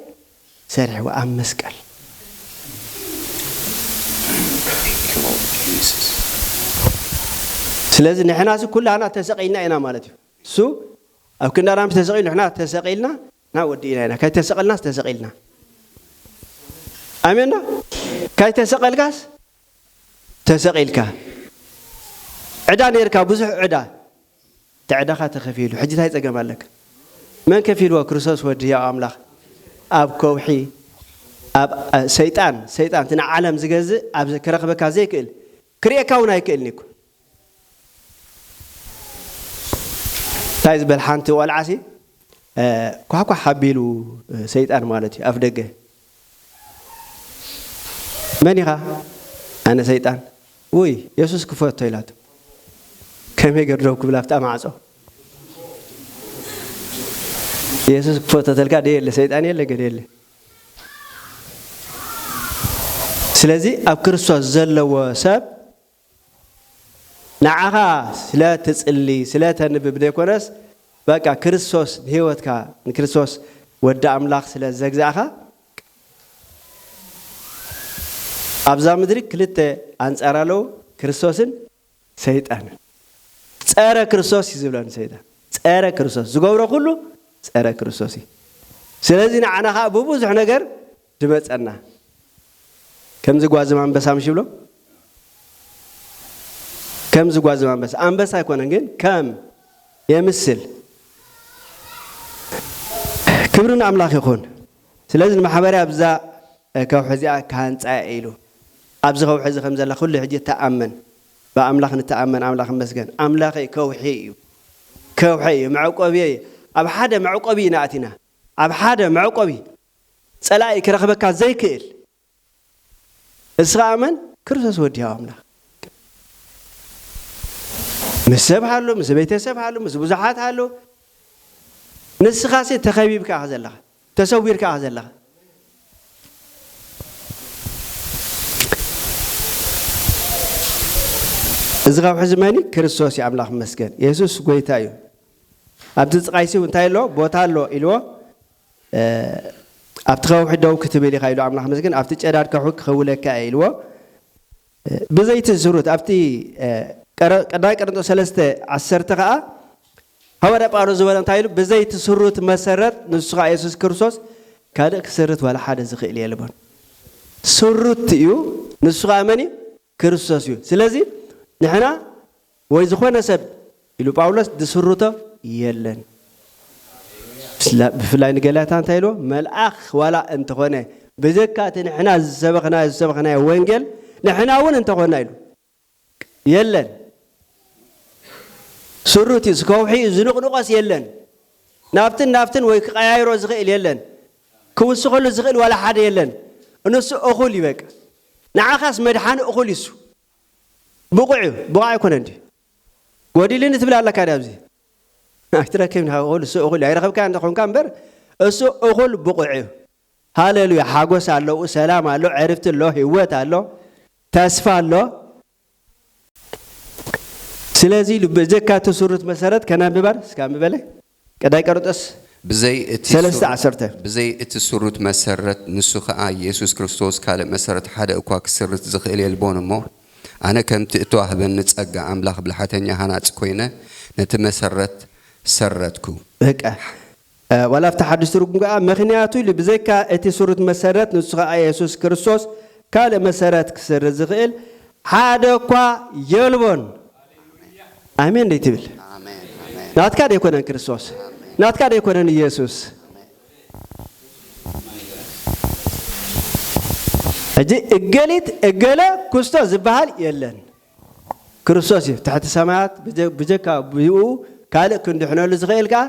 ሰሪሕዋ ኣብ መስቀል። ስለዚ ንሕናሲ ኩላህና ተሰቒልና ኢና ማለት እዩ። እሱ ኣብ ክንዳና ምስ ተሰቒሉ ንሕና ተሰቒልና ና ወዲእና ኢና ካይተሰቐልናስ ተሰቒልና ኣሜን ዶ ካይተሰቐልካስ ተሰቒልካ ዕዳ ነርካ ብዙሕ ዕዳ ተዕዳኻ ተኸፊሉ ሕጂ ታይ ጸገም ኣለካ መን ከፊልዎ ክርስቶስ ወዲ ህያው ኣምላኽ ኣብ ከውሒ ኣብ ሰይጣን ሰይጣን እቲ ንዓለም ዝገዝእ ኣብ ክረኽበካ ዘይክእል ክርእየካ ውን ኣይክእልን እኮ ታይ ዝበል ሓንቲ ቆልዓ ሲ ኳሕኳሕ ኣቢሉ ሰይጣን ማለት እዩ ኣፍደገ መን ኢኻ ኣነ ሰይጣን ውይ የሱስ ክፈቶ ኢላቶ ከመይ ገር ደው ክብል ኣብታ ማዕጾ የሱስ ክፈቶ ተልካ ደየለ ሰይጣን የለ ገደ የለ ስለዚ ኣብ ክርስቶስ ዘለዎ ሰብ ንዓኻ ስለ ትጽሊ ስለ ተንብብ ዘይኮነስ በቃ ክርስቶስ ንህይወትካ ንክርስቶስ ወዲ ኣምላኽ ስለ ዘግዛእኻ ኣብዛ ምድሪ ክልተ ኣንጻር ኣለዉ ክርስቶስን ሰይጣንን ጸረ ክርስቶስ እዩ ዝብሎ ንሰይጣን ጸረ ክርስቶስ ዝገብሮ ኩሉ ጸረ ክርስቶስ እዩ ስለዚ ንዓና ከኣ ብብዙሕ ነገር ድመጸና ከምዚ ጓዝም ኣንበሳ ምሽ ይብሎ ከምዚ ጓዝም ኣንበሳ ኣንበሳ ኣይኮነን ግን ከም የምስል ክብሪ ንኣምላኽ ይኹን ስለዚ ንማሕበረይ ኣብዛ ከውሒ እዚኣ ክሃንጻ እየ ኢሉ። ኣብዚ ከውሒ እዚ ከም ዘላ ኩሉ ሕጂ ተኣመን። ብኣምላኽ ንተኣመን ኣምላኽ ይመስገን። ኣምላኸይ ከውሒ እዩ። ከውሐይ እዩ። መዕቆቢየይ እዩ። ኣብ ሓደ መዕቆቢ ኢና ኣቲና። ኣብ ሓደ መዕቆቢ። ጸላኢ ክረኽበካ ዘይክእል። እስኻ ኣመን ክርስቶስ ወዲ ሕያው ኣምላኽ ምስ ሰብ ሃሎ ምስ ቤተሰብ ሃሎ ምስ ብዙሓት ሃሎ ንስኻሲ ተኸቢብካ ኢኻ ዘለኻ ተሰዊርካ ኢኻ ዘለኻ እዚ ካብ ሕዚ መኒ ክርስቶስ እዩ ኣምላኽ መስገን የሱስ ጎይታ እዩ ኣብቲ ዝቃይሲ እንታይ ኣሎ ቦታ ኣሎ ኢልዎ ኣብቲ ከውሒ ደው ክትብል ኢኻ ኢሉ ኣምላኽ ምስግን ኣብቲ ጨዳድ ከውሒ ክኽውለካ እየ ኢልዎ ብዘይቲ ዝሩት ኣብቲ ቀዳማይ ቀርንጦስ ሰለስተ ዓሰርተ ከኣ ሃዋርያ ጳውሎስ ዝበሎ እንታይ ኢሉ ብዘይቲ ስሩት መሰረት ንሱ ከኣ የሱስ ክርስቶስ ካልእ ክስርት ዋላ ሓደ ዝኽእል የልቦን ስሩት እዩ ንሱ ከኣ መን እዩ ክርስቶስ እዩ። ስለዚ ንሕና ወይ ዝኾነ ሰብ ኢሉ ጳውሎስ ዝስርቶ የለን። ብፍላይ ንገላትያ እንታይ ኢልዎ? መልኣኽ ዋላ እንተኾነ ብዘካ እቲ ንሕና ዝሰበኽናዮ ዝሰበኽናዮ ወንጌል ንሕና እውን እንተኾና ኢሉ የለን። ስሩት እዩ ከውሒ እዩ ዝንቕንቆስ የለን ናብትን ናብትን ወይ ክቀያይሮ ዝኽእል የለን ክውስኸሉ ዝኽእል ዋላ ሓደ የለን ንሱ እኹል ይበቅ ንዓኻስ መድሓኒ እኹል እዩሱ ብቑዕ እዩ ብቑዕ ኣይኮነን ድዩ ጎዲልኒ ትብል ኣለካ ድያ ኣብዚ ኣይትረክብን እኹል እሱ እኹል እዩ ኣይረኸብካዮን እንተኾንካ እምበር እሱ እኹል ብቑዕ እዩ ሃሌሉያ ሓጎስ ኣሎ ሰላም ኣሎ ዕርፍቲ ኣሎ ህይወት ኣሎ ተስፋ ኣሎ ስለዚ ኢሉ በጀካ እቲ ሱርት መሰረት ከናብባር እስከ ኣንብበለ ቀዳይ ቀርጠስ ብዘይ እቲ ሰለስተ ሱር ዓሰርተ። ብዘይ እቲ ሱርት መሰረት ንሱ ከኣ ኢየሱስ ክርስቶስ ካልእ መሰረት ሓደ እኳ ክስርት ዝክእል የልቦን እሞ ኣነ ከምቲ እተዋህበኒ ጸጋ ኣምላኽ ብልሓተኛ ሃናጺ ኮይነ ነቲ መሰረት ሰረትኩ። በቃ ዋላ ኣብቲ ሓድሽ ትርጉም ከኣ ምኽንያቱ ኢሉ ብዘይካ እቲ ስሩት መሰረት ንሱ ከኣ የሱስ ክርስቶስ ካልእ መሰረት ክስርት ዝኽእል ሓደ እኳ የልቦን። ኣሜን ደይትብል? ናትካ ደይኮነን ክርስቶስ፣ ናትካ ደይኮነን ኢየሱስ። ሕጂ እገሊት እገለ ክስቶ ዝበሃል የለን። ክርስቶስ እዩ ትሕቲ ሰማያት ብጀካ ብኡ ካልእ ክንድሕነሉ ዝኽእል ከኣ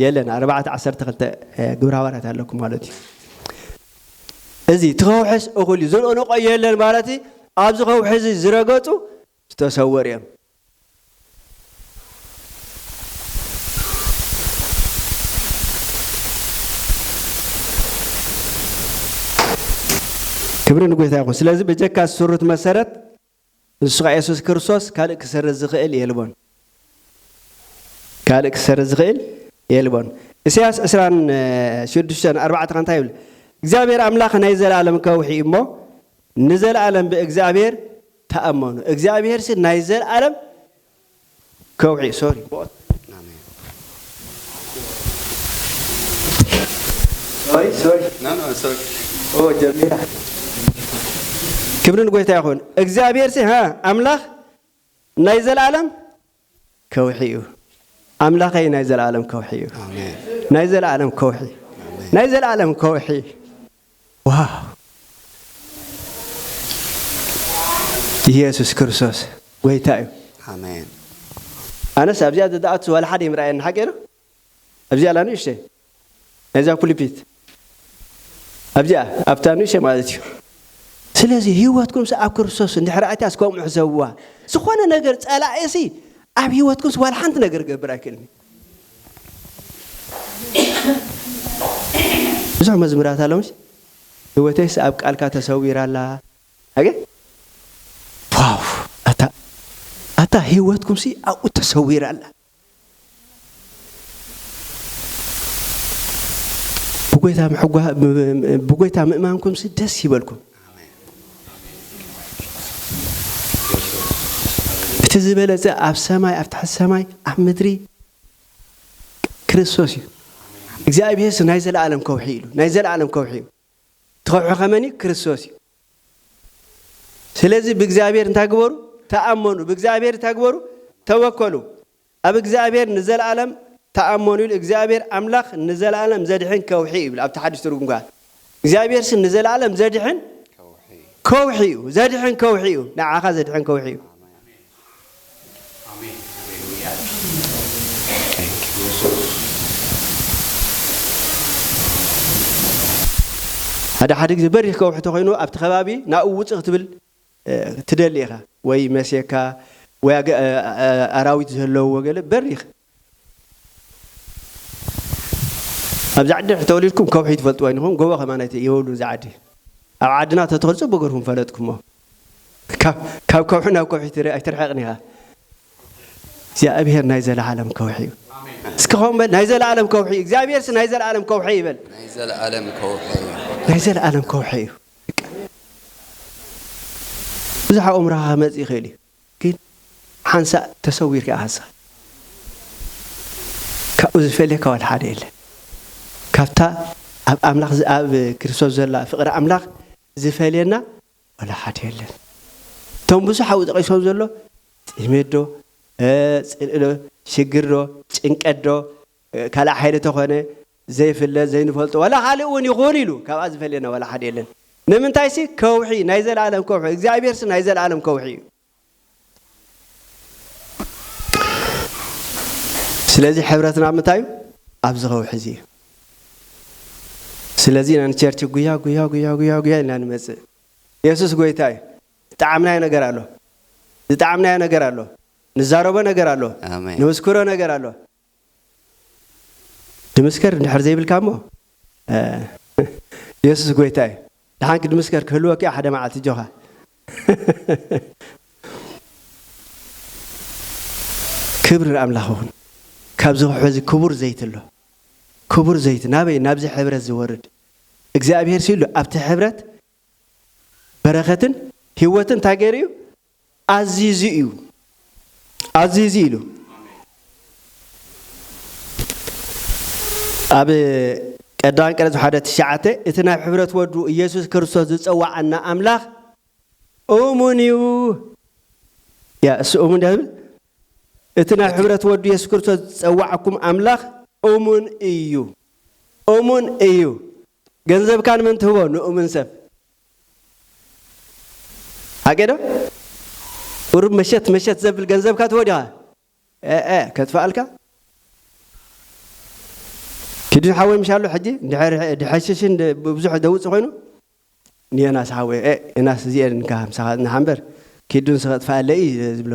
የለን ኣርባዕተ ዓሰርተ ክልተ ግብረ ሃዋርያት ኣለኩም ማለት እዩ እዚ እቲ ከውሕስ እኹል እዩ ዝንቕንቆ የለን ማለት ኣብዚ ከውሒ እዚ ዝረገጹ ዝተሰወሩ እዮም ክብሪ ንጎይታ ይኹን ስለዚ በጀካ ዝስሩት መሰረት ንሱ ከኣ የሱስ ክርስቶስ ካልእ ክሰርት ዝኽእል የልቦን ካልእ ክሰርት ዝኽእል የልቦን እሰያስ ዕስራን ሽዱሽተን ኣርባዕተ ከ እንታይ ይብል እግዚኣብሔር ኣምላኽ ናይ ዘለኣለም ከውሒ እዩ እሞ ንዘለኣለም ብእግዚኣብሔር ተኣመኑ እግዚኣብሔርሲ ናይ ዘለኣለም ከውሒ ክብሪ ንጐይታ ይኹን እግዚኣብሔርሲ ኣምላኽ ናይ ዘለኣለም ከውሒ እዩ ኣምላኸይ ናይ ዘለኣለም ከውሒ እዩ ናይ ዘለኣለም ከውሒ ናይ ዘለኣለም ከውሒ ዋው ኢየሱስ ክርስቶስ ጎይታ እዩ ኣነስ ኣብዚኣ ዝደኣቱ ዋላ ሓደ ይምርኣየኒ ሓቂ ዶ ኣብዚኣ ኣላ ንእሽተይ ናይዛ ኩልፒት ኣብዚኣ ኣብታ ንእሽተይ ማለት እዩ ስለዚ ህይወትኩምሲ ኣብ ክርስቶስ እንድሕር ኣትያስ ከምኡ ሕሰብዋ ዝኾነ ነገር ጸላኢሲ ኣብ ህይወትኩምሲ ዋላ ሓንቲ ነገር ገብር ኣይክእልን ብዙሕ መዝሙራት ኣለውስ ህይወተይሲ ኣብ ቃልካ ተሰዊራ ኣላ ኣገ ዋው ኣታ ኣታ ህይወትኩምሲ ኣብኡ ተሰዊራ ኣላ ብጎይታ ምሕጓ- ብ- ብጎይታ ምእማንኩምሲ ደስ ይበልኩም እቲ ዝበለፀ ኣብ ሰማይ ኣብ ትሕቲ ሰማይ ኣብ ምድሪ ክርስቶስ እዩ እግዚኣብሔርሲ ናይ ዘለኣለም ከውሒ ኢሉ ናይ ዘለኣለም ከውሒ እዩ ትኸብሑ ከመን እዩ ክርስቶስ እዩ ስለዚ ብእግዚኣብሔር እንታይ ግበሩ ተኣመኑ ብእግዚኣብሔር እንታይ ግበሩ ተወከሉ ኣብ እግዚኣብሔር ንዘለኣለም ተኣመኑ ኢሉ እግዚኣብሔር ኣምላኽ ንዘለኣለም ዘድሕን ከውሒ እዩ ይብል ኣብቲ ሓድሽ ትርጉም ከዓ እግዚኣብሔር ሲ ንዘለኣለም ዘድሕን ከውሒ እዩ ዘድሕን ከውሒ እዩ ንዓኻ ዘድሕን ከውሒ እዩ ኣሜን ሃሌሉያ ታንክ ዩ የሱስ። ሓደ ሓደ ግዜ በሪኽ ከውሒ ተኾይኑ ኣብቲ ከባቢ ናብኡ ውጽእ ክትብል ትደሊ ኢኻ ወይ መስየካ ወይ ኣራዊት ዘለውዎ ገለ በሪኽ ኣብዛ ዓዲ ድሕሪ ተወሊድኩም ከውሒ ትፈልጥዎ ኣይንኹም ጎቦ ከማን ኣይትየብሉን እዛ ዓዲ ኣብ ዓድና ተትኸዱ ጽቡቅ ገርኩም ፈለጥኩሞ ካብ ከውሒ ናብ ከውሒ ኣይትርሕቅን ኢኻ እግዚኣብሔር ናይ ዘለዓለም ከውሒ እዩ እስኪ ኸም በል ናይ ዘለዓለም ከውሒ እዩ እግዚኣብሔርስ ናይ ዘለዓለም ከውሒ ይበል ናይ ዘለዓለም ከውሒ እዩ ናይ ዘለዓለም ከውሒ እዩ ብዙሕ ኣእምሮኻ ክመፅእ ይኽእል እዩ ግን ሓንሳእ ተሰዊሪኣሳ ካብኡ ዝፈልየካ ዋላ ሓደ የለን ካብታ ኣብ ኣምላኽ ኣብ ክርስቶስ ዘላ ፍቅሪ ኣምላኽ ዝፈልየና ዋላ ሓደ የለን እቶም ብዙሕ ኣብኡ ጠቂሶም ዘሎ ጥሜት ዶ ጽልኢ ዶ ሽግር ዶ ጭንቀት ዶ ካልእ ሓይሊ ተኾነ ዘይፍለጥ ዘይንፈልጦ ዋላ ካልእ እውን ይኹን ኢሉ ካብኣ ዝፈልየና ዋላ ሓደ የለን ንምንታይሲ ከውሒ ናይ ዘለኣለም ከውሒ እግዚኣብሔርሲ ናይ ዘለኣለም ከውሒ እዩ ስለዚ ሕብረትና ምንታይ እዩ ኣብዚ ከውሒ እዚ እዩ ስለዚ ኢና ንቸርች ጉያ ጉያ ጉያ ጉያ ጉያ ኢልና ንመፅእ የሱስ ጎይታ እዩ ዝጠዓምናዮ ነገር ኣሎ ዝጠዓምናዮ ነገር ኣሎ ንዛረቦ ነገር ኣሎ ኣሜን ንምስክሮ ነገር ኣሎ ድምስከር እንድሕር ዘይብልካ እሞ የሱስ ጎይታ እዩ ድሓን ክድምስከር ክህልወኪ ሓደ መዓልቲ ጆኻ ክብሪ ንኣምላኽ ይኹን ካብዚ ክሕዚ ክቡር ዘይቲ ኣሎ ክቡር ዘይቲ ናበይ ናብዚ ሕብረት ዝወርድ እግዚኣብሄር ሲሉ ኣብቲ ሕብረት በረኸትን ህይወትን እንታይ ገይሩ እዩ ኣዚዙ እዩ ኣዚዙ ኢሉ ኣብ ቀዳማን ቀረጽ ሓደ ትሽዓተ እቲ ናብ ሕብረት ወዱ ኢየሱስ ክርስቶስ ዝጸዋዓና ኣምላኽ እሙን እዩ ያ እሱ እሙን ዳብል እቲ ናብ ሕብረት ወዱ ኢየሱስ ክርስቶስ ዝጸዋዓኩም ኣምላኽ እሙን እዩ እሙን እዩ ገንዘብካ ንመን ትህቦ ንኡምን ሰብ ሓቂ ዶ ቁሩብ መሸት መሸት ዘብል ገንዘብካ ትህቦ ዲኻ ኤእ ከጥፍኣልካ ኪዱ ሓወይ ምሽ ኣሎ ሕጂ እንድሕር ድሐሽሽን ብዙሕ ደውጽእ ኮይኑ ንዮናስ ሓወይ ኤእ ዮናስ እዚኤን እንካ ምሳኻ ዝናሓ እምበር ኪዱ ንስ ከጥፍኣለይ እዩ ዝብሎ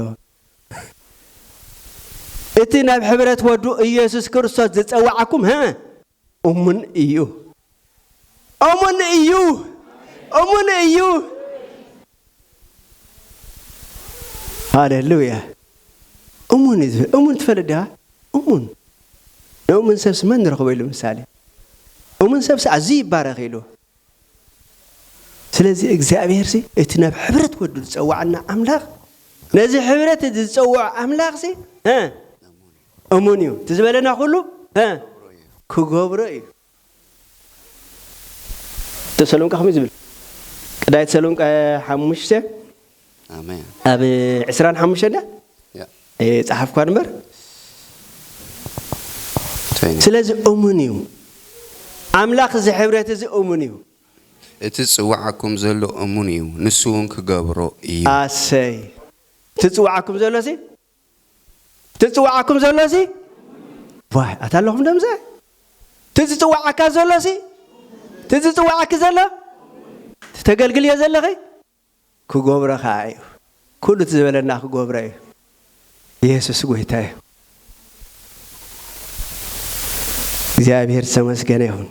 እቲ ናብ ሕብረት ወዱ ኢየሱስ ክርስቶስ ዝጸውዓኩም እሙን እዩ እሙን እዩ እሙን እዩ ሃሌሉያ እሙን እዩ ዝብል እሙን ትፈልጥ ዲኻ እሙን ንእሙን ሰብሲ መን ንረኽቦ ኢሉ ምሳሌ እሙን ሰብሲ ኣዝዩ ይባረኽ ኢሉ ስለዚ እግዚኣብሔርሲ እቲ ናብ ሕብረት ወዱ ዝፀዋዕና ኣምላኽ ነዚ ሕብረት እዚ ዝፀውዖ ኣምላኽሲ እሙን እዩ እቲ ዝበለና ኩሉ ክገብሮ እዩ። ተሰሎንቃ ከመይ ዝብል ቀዳይ ተሰሎንቃ ሓሙሽተ ኣብ ዕስራን ሓሙሽተ ዳ ጸሓፍኳ ንበር ስለዚ እሙን እዩ ኣምላኽ እዚ ሕብረት እዚ እሙን እዩ እቲ ዝጽውዓኩም ዘሎ እሙን እዩ ንሱ እውን ክገብሮ እዩ ኣሰይ እቲ ዝጽውዓኩም ዘሎ ሲ እቲ ዝጽውዓኩም ዘሎሲ ዋይ ኣታ ኣለኹም ዶ ምስኣ እቲ ዝጽውዓካ ዘሎሲ እቲ ዝጽውዓኪ ዘሎ እቲ ተገልግልዮ ዘለኺ ክገብሮ ከኣ እዩ ኩሉ እቲ ዝበለና ክገብሮ እዩ የሱስ ጎይታ እዩ እግዚኣብሔር ዝተመስገነ ይኹን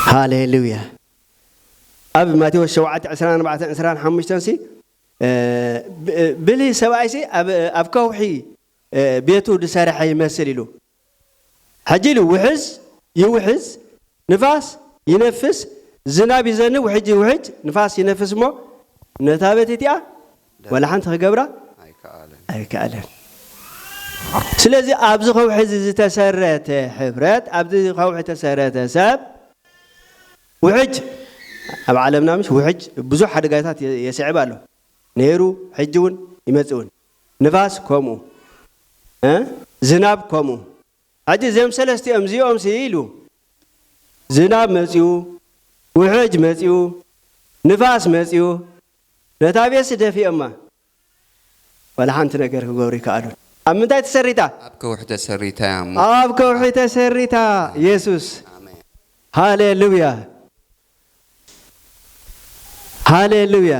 ሃሌሉያ ኣብ ማቴዎስ ሸውዓተ ዕስራን ኣርባዕተን ዕስራን ሓሙሽተን ሲ ብልህ ሰብኣይሲ ኣብ ከውሒ ቤቱ ዝሰረሐ ይመስል ኢሉ ሕጂ ኢሉ ውሕዝ ይውሕዝ ንፋስ ይነፍስ ዝናብ ይዘንብ ውሕጅ ይውሕጅ ንፋስ ይነፍስ እሞ ነታ ቤት እቲኣ ዋላ ሓንቲ ክገብራ ኣይከኣለን ስለዚ ኣብዚ ከውሒ እዚ ዝተሰረተ ሕብረት ኣብዚ ከውሒ ተሰረተ ሰብ ውሕጅ ኣብ ዓለምና ምሽ ውሕጅ ብዙሕ ሓደጋታት የስዕብ ኣሎ ነይሩ ሕጂ ውን ይመጽእ ውን ንፋስ ከምኡ እ ዝናብ ከምኡ ሕጂ እዚም ሰለስቲኦም እዚኦም ሲ ኢሉ ዝናብ መጽኡ ውሕጅ መጽኡ ንፋስ መጽኡ ነታ ቤት ሲ ደፊኦማ ዋላ ሓንቲ ነገር ክገብሩ ኣይከኣሉን። ኣብ ምንታይ ተሰሪታ? ኣብ ከውሒ ተሰሪታ እያ እሞ። ኣብ ከውሒ ተሰሪታ። የሱስ። ኣሜን። ሃሌሉያ። ሃሌሉያ።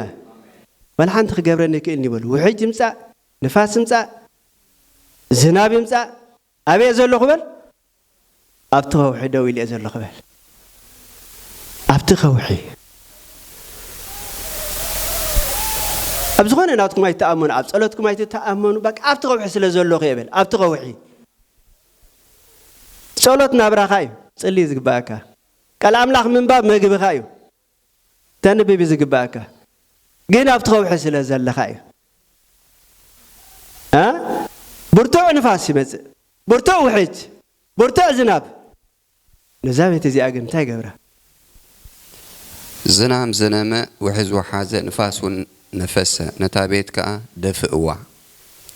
ዋላ ሓንቲ ክገብረኒ ኣይክእልን እዩ በሉ። ውሕጅ ይምጻእ፣ ንፋስ ይምጻእ፣ ዝናብ ይምጻእ። ኣበይ'የ ዘለኹ በል? ኣብቲ ከውሒ ደው ኢለ'የ ዘለኹ በል። ኣብቲ ከውሒ። ኣብ ዝኾነ ናትኩም ኣይትተኣመኑ፣ ኣብ ጸሎትኩም ኣይትተኣመኑ፣ በቃ ኣብቲ ከውሒ ስለ ዘለኹ'የ በል። ኣብቲ ከውሒ። ጸሎት ናብራኻ'ዩ። ጽሊ ዝግበኣካ። ቃል ኣምላኽ ምንባብ መግብኻ'ዩ። ክተንብብ እዩ ዝግበኣካ ግን ኣብቲ ከውሒ ስለ ዘለኻ እዩ እ ብርቱዕ ንፋስ ይመጽእ ብርቱዕ ውሕጅ ብርቱዕ ዝናብ ነዛ ቤት እዚኣ ግን እንታይ ገብራ ዝናም ዘነመ ውሕዝ ወሓዘ ንፋስ ውን ነፈሰ ነታ ቤት ከኣ ደፍእዋ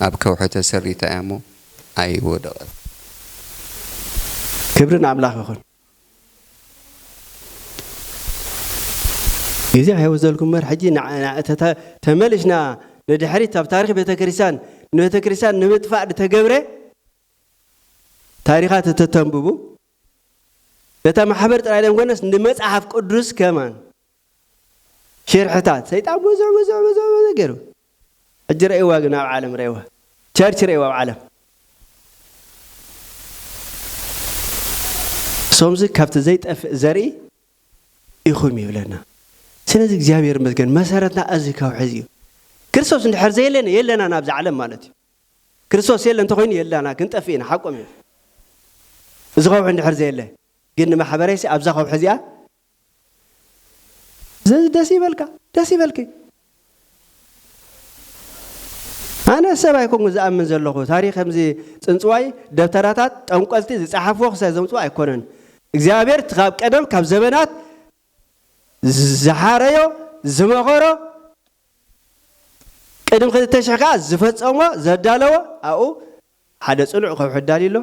ኣብ ከውሒ ተሰሪታ እያ እሞ ኣይወደቐትን። ክብሪ ንኣምላኽ ይኹን። እዚ ሕያው ዘልኩም መር ሕጂ ተመልሽና ንድሕሪት ኣብ ታሪኽ ቤተ ክርስቲያን ንቤተ ክርስቲያን ንምጥፋእ ዝተገብረ ታሪኻት እተተንብቡ ነታ ማሕበር ጥራይ ዘይኮነስ ንመጽሓፍ ቅዱስ ከማን ሽርሕታት ሰይጣን ብዙሕ ብዙሕ ብዙሕ ብዙሕ ገይሩ ሕጂ ረእይዋ ግን ኣብ ዓለም ረእይዋ ቸርች ረእይዋ ኣብ ዓለም ሶምዚ ካብቲ ዘይጠፍእ ዘርኢ ኢኹም ይብለና ስለዚ እግዚኣብሔር መስገን መሰረትና እዚ ካብ ሕዚ እዩ ክርስቶስ እንድሕር ዘየለነ የለና ናብዚ ዓለም ማለት እዩ ክርስቶስ የለ እንተኮይኑ የላና ክንጠፍእ ኢና ሓቆም እዮም እዚ ከውሒ እንድሕር ዘየለ ግን ንማሕበረይሲ ኣብዛ ከውሒ እዚኣ ዘዚ ደስ ይበልካ ደስ ይበልኪ ኣነ ሰብ ኣይኮንኩ ዝኣምን ዘለኹ ታሪክ ከምዚ ፅንፅዋይ ደብተራታት ጠንቆልቲ ዝፀሓፍዎ ክሳይ ዘምፅዎ ኣይኮነን እግዚኣብሔር እቲ ካብ ቀደም ካብ ዘበናት ዝሓረዮ ዝመኸሮ ቅድም ክልተ ሽሕ ከዓ ዝፈፀሞ ዘዳለዎ ኣብኡ ሓደ ጽኑዕ ከውሒ ኣዳልዩ ኣሎ።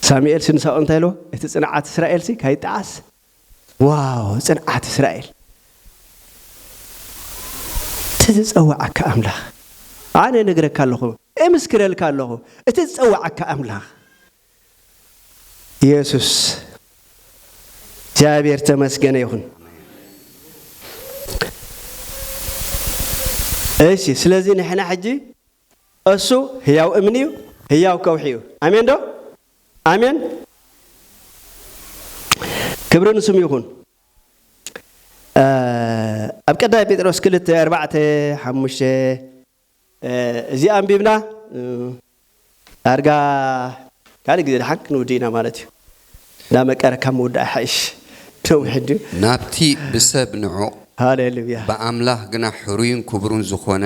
ሳሙኤልሲ ንሳኦል እንታይ ኢልዎ? እቲ ጽንዓት እስራኤልሲ ካይጠዓስ። ዋው! ጽንዓት እስራኤል! እቲ ዝጸውዓካ ኣምላኽ! ኣነ እነግረካ ኣለኹ፣ እምስክረልካ ኣለኹ፣ እቲ ዝጸውዓካ ኣምላኽ! የሱስ! እግዚኣብሔር ተመስገነ ይኹን። እሺ ስለዚ ንሕና ሕጂ እሱ ህያው እምኒ እዩ ህያው ከውሒ እዩ ኣሜን ዶ ኣሜን ክብሪ ንስሙ ይኹን ኣብ ቀዳይ ጴጥሮስ ክልተ ኣርባዕተ ሓሙሽተ እዚ ኣንቢብና ዳርጋ ካልእ ግዜ ድሓን ክንውድእ ኢና ማለት እዩ እንዳመቀረ ካብ ምውዳእ ይሓይሽ ነዊሕ ድዩ ናብቲ ብሰብ ንዑቕ ሃሌሉያ ብኣምላኽ ግና ሕሩይን ክቡርን ዝኾነ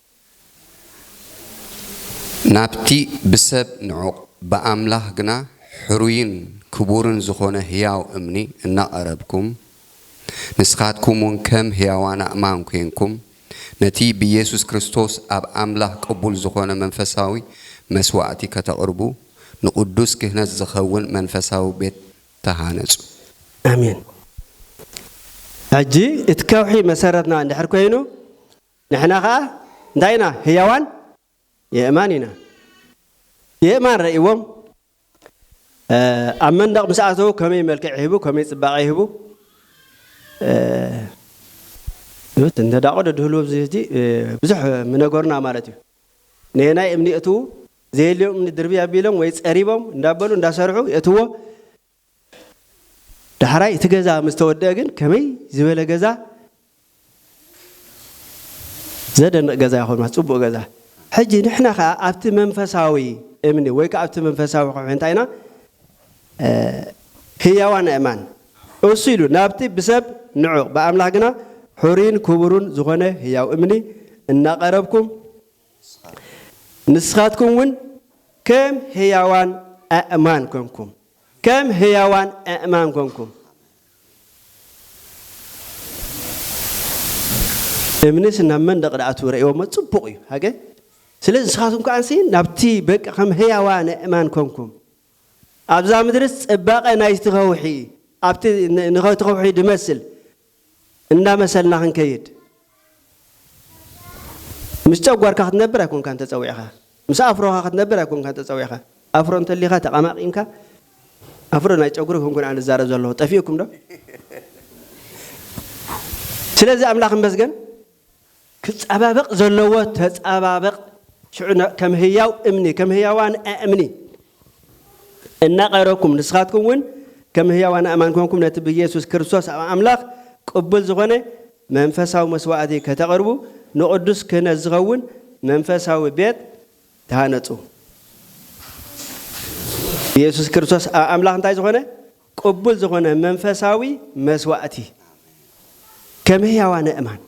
ናብቲ ብሰብ ንዑቕ ብኣምላኽ ግና ሕሩይን ክቡርን ዝኾነ ሕያው እምኒ እናቐረብኩም፣ ንስኻትኩምውን ከም ሕያዋን ኣእማን ኴንኩም፣ ነቲ ብኢየሱስ ክርስቶስ ኣብ ኣምላኽ ቅቡል ዝኾነ መንፈሳዊ መሥዋዕቲ ከተቕርቡ፣ ንቕዱስ ክህነት ዚኸውን መንፈሳዊ ቤት ተሃነጹ። ኣሜን። ሕጂ እቲ ከውሒ መሠረትና እንድሕር ኮይኑ፣ ንሕና ከኣ እንታይ ኢና ህያዋን የእማን ኢና የእማን ረእዎም ኣብ መንደቕ ምስ ኣተዉ ከመይ መልክዕ ይህቡ ከመይ ጽባቐ ይህቡ ት እንተዳቆ ደድህልዎ ብዝህቲ ብዙሕ ምነገሩና ማለት እዩ ነየናይ እምኒ የእትዉ ዘየልዮም እምኒ ድርብይ ኣቢሎም ወይ ጸሪቦም እንዳበሉ እንዳሰርሑ የእትዎ ዳሕራይ እቲ ገዛ ምስ ተወደኣ ግን ከመይ ዝበለ ገዛ ዘደንቕ ገዛ ይኸውን ማለት ጽቡቕ ገዛ ሕጂ ንሕና ከኣ ኣብቲ መንፈሳዊ እምኒ ወይ ከኣ ኣብቲ መንፈሳዊ ከውሒ እንታይ ኢና ህያዋን ኣእማን እሱ ኢሉ ናብቲ ብሰብ ንዑቕ ብኣምላኽ ግና ሑሪን ክቡሩን ዝኾነ ህያው እምኒ እናቐረብኩም ንስኻትኩም እውን ከም ህያዋን ኣእማን ኮንኩም። ከም ህያዋን ኣእማን ኮንኩም። እምንስ ናብ መንደቕ ደኣ ትረእዎሞ ጽቡቕ እዩ ሃገ ስለዚ ንስኻትኩም ከኣንሲ ናብቲ በቃ ከም ህያዋን ኣእማን ኮንኩም ኣብዛ ምድርስ ጽባቐ ናይቲ ከውሒ ኣብቲ ንኸቲ ከውሒ ድመስል እንዳመሰልና ክንከይድ ምስ ጨጓርካ ክትነብር ኣይኮንካን ተጸዊዕኻ ምስ ኣፍሮኻ ክትነብር ኣይኮንካን ተጸዊዕኻ ኣፍሮ እንተሊኻ ተቐማቒምካ ኣፍሮ ናይ ጨጉሪ ኮንኩን ኣነ ዝዛረብ ዘለኹ ጠፊኡኩም ዶ ስለዚ ኣምላኽ መስገን ክጻባበቕ ዘለዎ ተጻባበቕ ሽዑ ከም ህያው እምኒ ከም ህያዋን ኣእምኒ እናቐረብኩም ንስኻትኩም ውን ከም ህያዋን ኣእማን ኰንኩም ነቲ ብየሱስ ክርስቶስ ኣብ ኣምላኽ ቅቡል ዝዀነ መንፈሳዊ መስዋእቲ ከተቕርቡ ንቕዱስ ክህነት ዝኸውን መንፈሳዊ ቤት ተሃነጹ። የሱስ ክርስቶስ ኣብ ኣምላኽ እንታይ ዝዀነ ቅቡል ዝኾነ መንፈሳዊ መስዋእቲ ከም ህያዋ ነእማን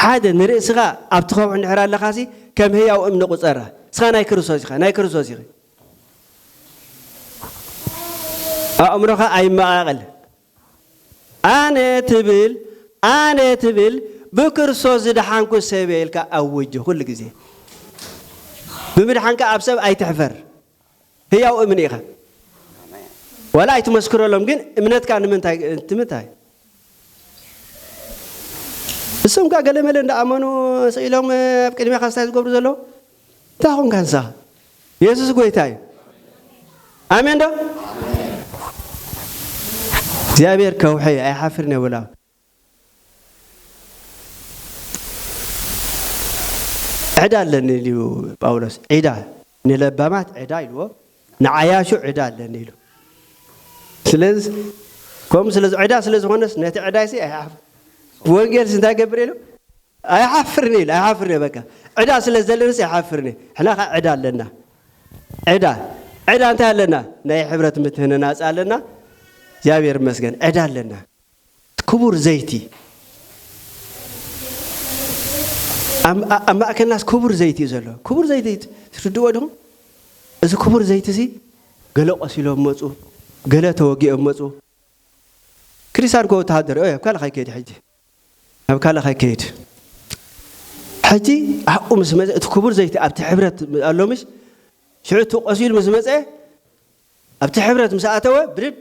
ሓደ ንርእስኻ ኣብቲ ከውሒ እንድሕር ኣለኻሲ ከም ህያው እምኒ ቁፀራ እስኻ ናይ ክርስቶስ ኢኻ ናይ ክርስቶስ ኢኺ ኣእምሮኻ ኣይመቓቐል ኣነ ትብል ኣነ ትብል ብክርስቶስ ዝደሓንኩ ሰብየ ኢልካ ኣውጅ ኩሉ ግዜ ብምድሓንካ ኣብ ሰብ ኣይትሕፈር ህያው እምኒ ኢካ ዋላ ኣይትመስክረሎም ግን እምነትካ ንምንታይ ትምታይ እሶም ከ ገለመለ እንዳኣመኑ ስኢሎም ኣብ ቅድሜካ ስታይ ዝገብሩ ዘለዉ እንታይ ኾንካ ንስኻ? የሱስ ጐይታ እዩ። ኣሜን ዶ? እግዚኣብሔር ከውሒ እዩ፣ ኣይሓፍርን እየ በሉ። ዕዳ ኣለኒ ኢሉ እዩ ጳውሎስ። ዒዳ ንለባማት ዕዳ ኢልዎ፣ ንዓያሹ ዕዳ ኣለኒ ኢሉ። ስለዚ ከምኡ ስለ ዕዳ ስለ ዝኾነስ ነቲ ዕዳይሲ ኣይሓፍ ብወንጌልሲ እንታይ ገብር ኢሉ ኣይሓፍርን እየ ኢለ ኣይሓፍርን እየ በቃ ዕዳ ስለ ዘለንስ ኣይሓፍርን እየ ሕና ከኣ ዕዳ ኣለና ዕዳ ዕዳ እንታይ ኣለና ናይ ሕብረት ምትህንናጽ ኣለና እግዚኣብሔር ይመስገን ዕዳ ኣለና ክቡር ዘይቲ ኣብ ማእከልናስ ክቡር ዘይቲ እዩ ዘሎ ክቡር ዘይቲ ትርድዎ ድኹም እዚ ክቡር ዘይቲ እዚ ገለ ቆሲሎም መፁ ገለ ተወጊኦም መፁ ክሪሳን ኮ ወተሃደር ኦ ካብ ካሊእ ከይከይድ ሕጂ ናብ ካልእ ከይከይድ ሕጂ ኣሕቁ ምስ መዘ እቲ ክቡር ዘይቲ ኣብቲ ሕብረት ኣሎምሽ ሽዑ እቲ ቆሲሉ ምስ መጸ ኣብቲ ሕብረት ምስ ኣተወ ብድድ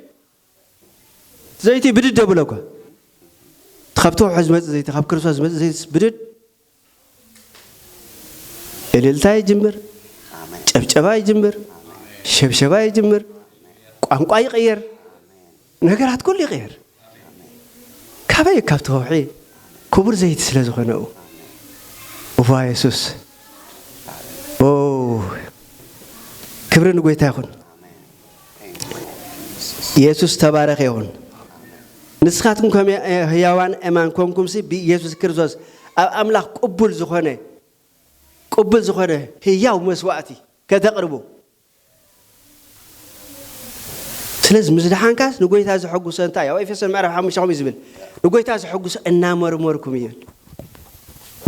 ዘይቲ ብድድ ኣብሎ እኳ እቲ ካብቲ ውሑድ ዝመጽእ ዘይቲ ካብ ክርስቶስ ዝመጽእ ዘይትስ ብድድ እልልታ ይጅምር፣ ጨብጨባ ይጅምር፣ ሸብሸባ ይጅምር፣ ቋንቋ ይቕየር፣ ነገራት ኩሉ ይቕየር። ካበይ ካብቲ ከውሒ ክቡር ዘይቲ ስለ ዝኾነ ኡ እዋ የሱስ ኦ ክብሪ ንጎይታ ይኹን። የሱስ ዝተባረኸ ይኹን። ንስኻትኩም ከም ህያዋን እማን ኮንኩምሲ ብኢየሱስ ክርስቶስ ኣብ ኣምላኽ ቅቡል ዝኾነ ቅቡል ዝኾነ ህያው መስዋእቲ ከተቕርቡ ስለዚ ምስ ድሓንካስ ንጎይታ ዘሐጉሶ እንታይ ኣብ ኤፌሶን ምዕራፍ ሓሙሽተ ከምኡ ዝብል ንጎይታ ዘሐጉሶ እናመርመርኩም እዩ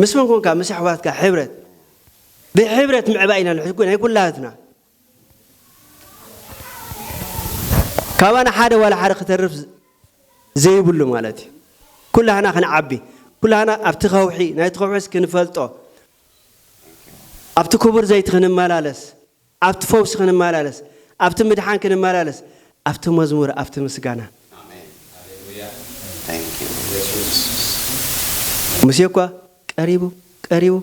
ምስ መን ኮንካ ምስ ኣሕዋትካ ሕብረት ብሕብረት ምዕባይ ኢና ናይ ኩላትና ካባና ሓደ ዋላ ሓደ ክተርፍ ዘይብሉ ማለት እዩ ኩላህና ክንዓቢ ኩላህና ኣብቲ ከውሒ ናይቲ ከውሒስ ክንፈልጦ ኣብቲ ክቡር ዘይቲ ክንመላለስ ኣብቲ ፈውሲ ክንመላለስ ኣብቲ ምድሓን ክንመላለስ ኣብቲ መዝሙር ኣብቲ ምስጋና ሙሴ እኳ ቀሪቡ ቀሪቡ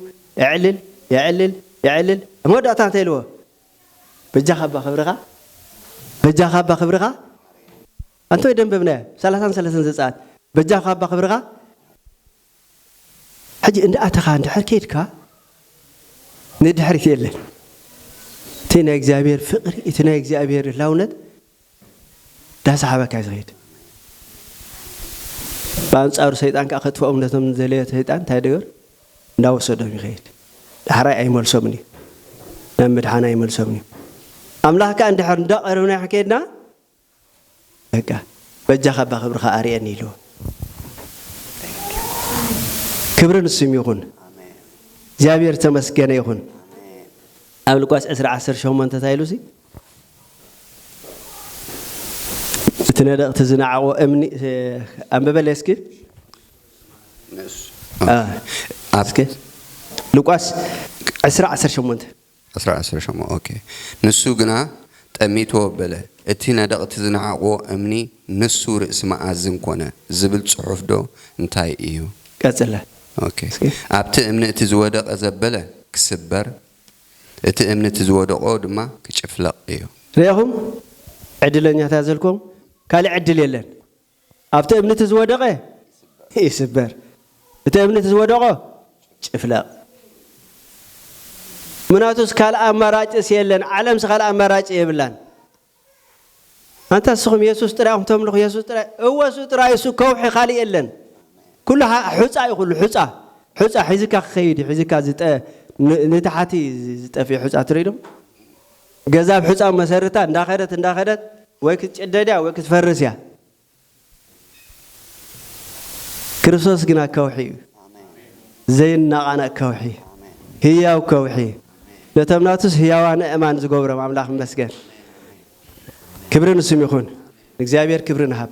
እዕልል እዕልል እዕልል ኣብ መወዳእታ እንታይ ኢልዎ በጃኻ እባ ክብርኻ በጃኻ እባ ክብርኻ ኣንተ ደንበብናያ ሰላሳን ሰለሰን ዘጻኣት በጃኻ እባ ክብርኻ ሕጂ እንዳኣተኻ እንድሕር ከይድካ ንድሕሪት የለን እቲ ናይ እግዚኣብሔር ፍቅሪ እቲ ናይ እግዚኣብሔር ህላውነት ዳሰሓበካ እዩ ዝኸይድ ብኣንጻሩ ሰይጣን ከኣ ከጥፍኦም ነቶም ንዘለዮ ሰይጣን እንታይ ደገር እንዳወሰዶም ይኸይድ ዳሕራይ ኣይመልሶምን እዩ ናብ ምድሓን ኣይመልሶምን እዩ ኣምላኽ ከኣ እንድሕር እንዳቐረብና ከይድና በቃ በጃኻ እባ ክብርኻ ኣርየኒ ኢልዎ ክብሪ ንስም ይኹን እግዚኣብሔር ተመስገነ ይኹን ኣብ ልቋስ 20 18 እንታይ ኢሉሲ እቲ ነደቕቲ ዝነዓቑ እምኒ ኣንብበለይ እስኪ እስኪ ሉቃስ 20 18 20 18 ኦኬ ንሱ ግና ጠሚቱ ኣበለ እቲ ነደቕቲ ዝነዓቑዎ እምኒ ንሱ ርእሲ መኣዝን ኮነ ዝብል ጽሑፍ ዶ እንታይ እዩ ቀጽለ ኦኬ ኣብቲ እምኒ እቲ ዝወደቐ ዘበለ ክስበር እቲ እምኒ እቲ ዝወደቖ ድማ ክጭፍለቕ እዩ። ርኤኹም፣ ዕድለኛታት ዘልኩም ካልእ ዕድል የለን። ኣብቲ እምኒ እቲ ዝወደቐ ይስበር፣ እቲ እምኒ እቲ ዝወደቖ ጭፍለቕ። ምናቱስ ካልእ ኣማራጭስ የለን፣ ዓለምስ ካልእ ኣማራጭ የብላን። ኣንታ እስኹም የሱስ ጥራይ ኢኹም ተምልኹ የሱስ ጥራይ እወ እሱ ጥራይ እሱ ከውሒ ካልእ የለን ኩሉ ሑጻ እዩ ኩሉ ሑጻ ሑጻ ሒዝካ ክኸይድ እዩ ሒዝካ ዝጠ ንታሕቲ ዝጠፍእ ሑጻ ትርኢ ዶ ገዛ ብ ሑጻ መሰርታ እንዳኸደት እንዳኸደት ወይ ክትጭደድ እያ ወይ ክትፈርስ እያ ክርስቶስ ግና ከውሒ እዩ፣ ዘይናቓነቕ ከውሒ፣ ህያው ከውሒ፣ ነቶም ናቱስ ህያዋን ኣእማን ዝገብሮም ኣምላኽ ይመስገን። ክብሪ ንስም ይኹን፣ ንእግዚኣብሔር ክብሪ ንሃብ።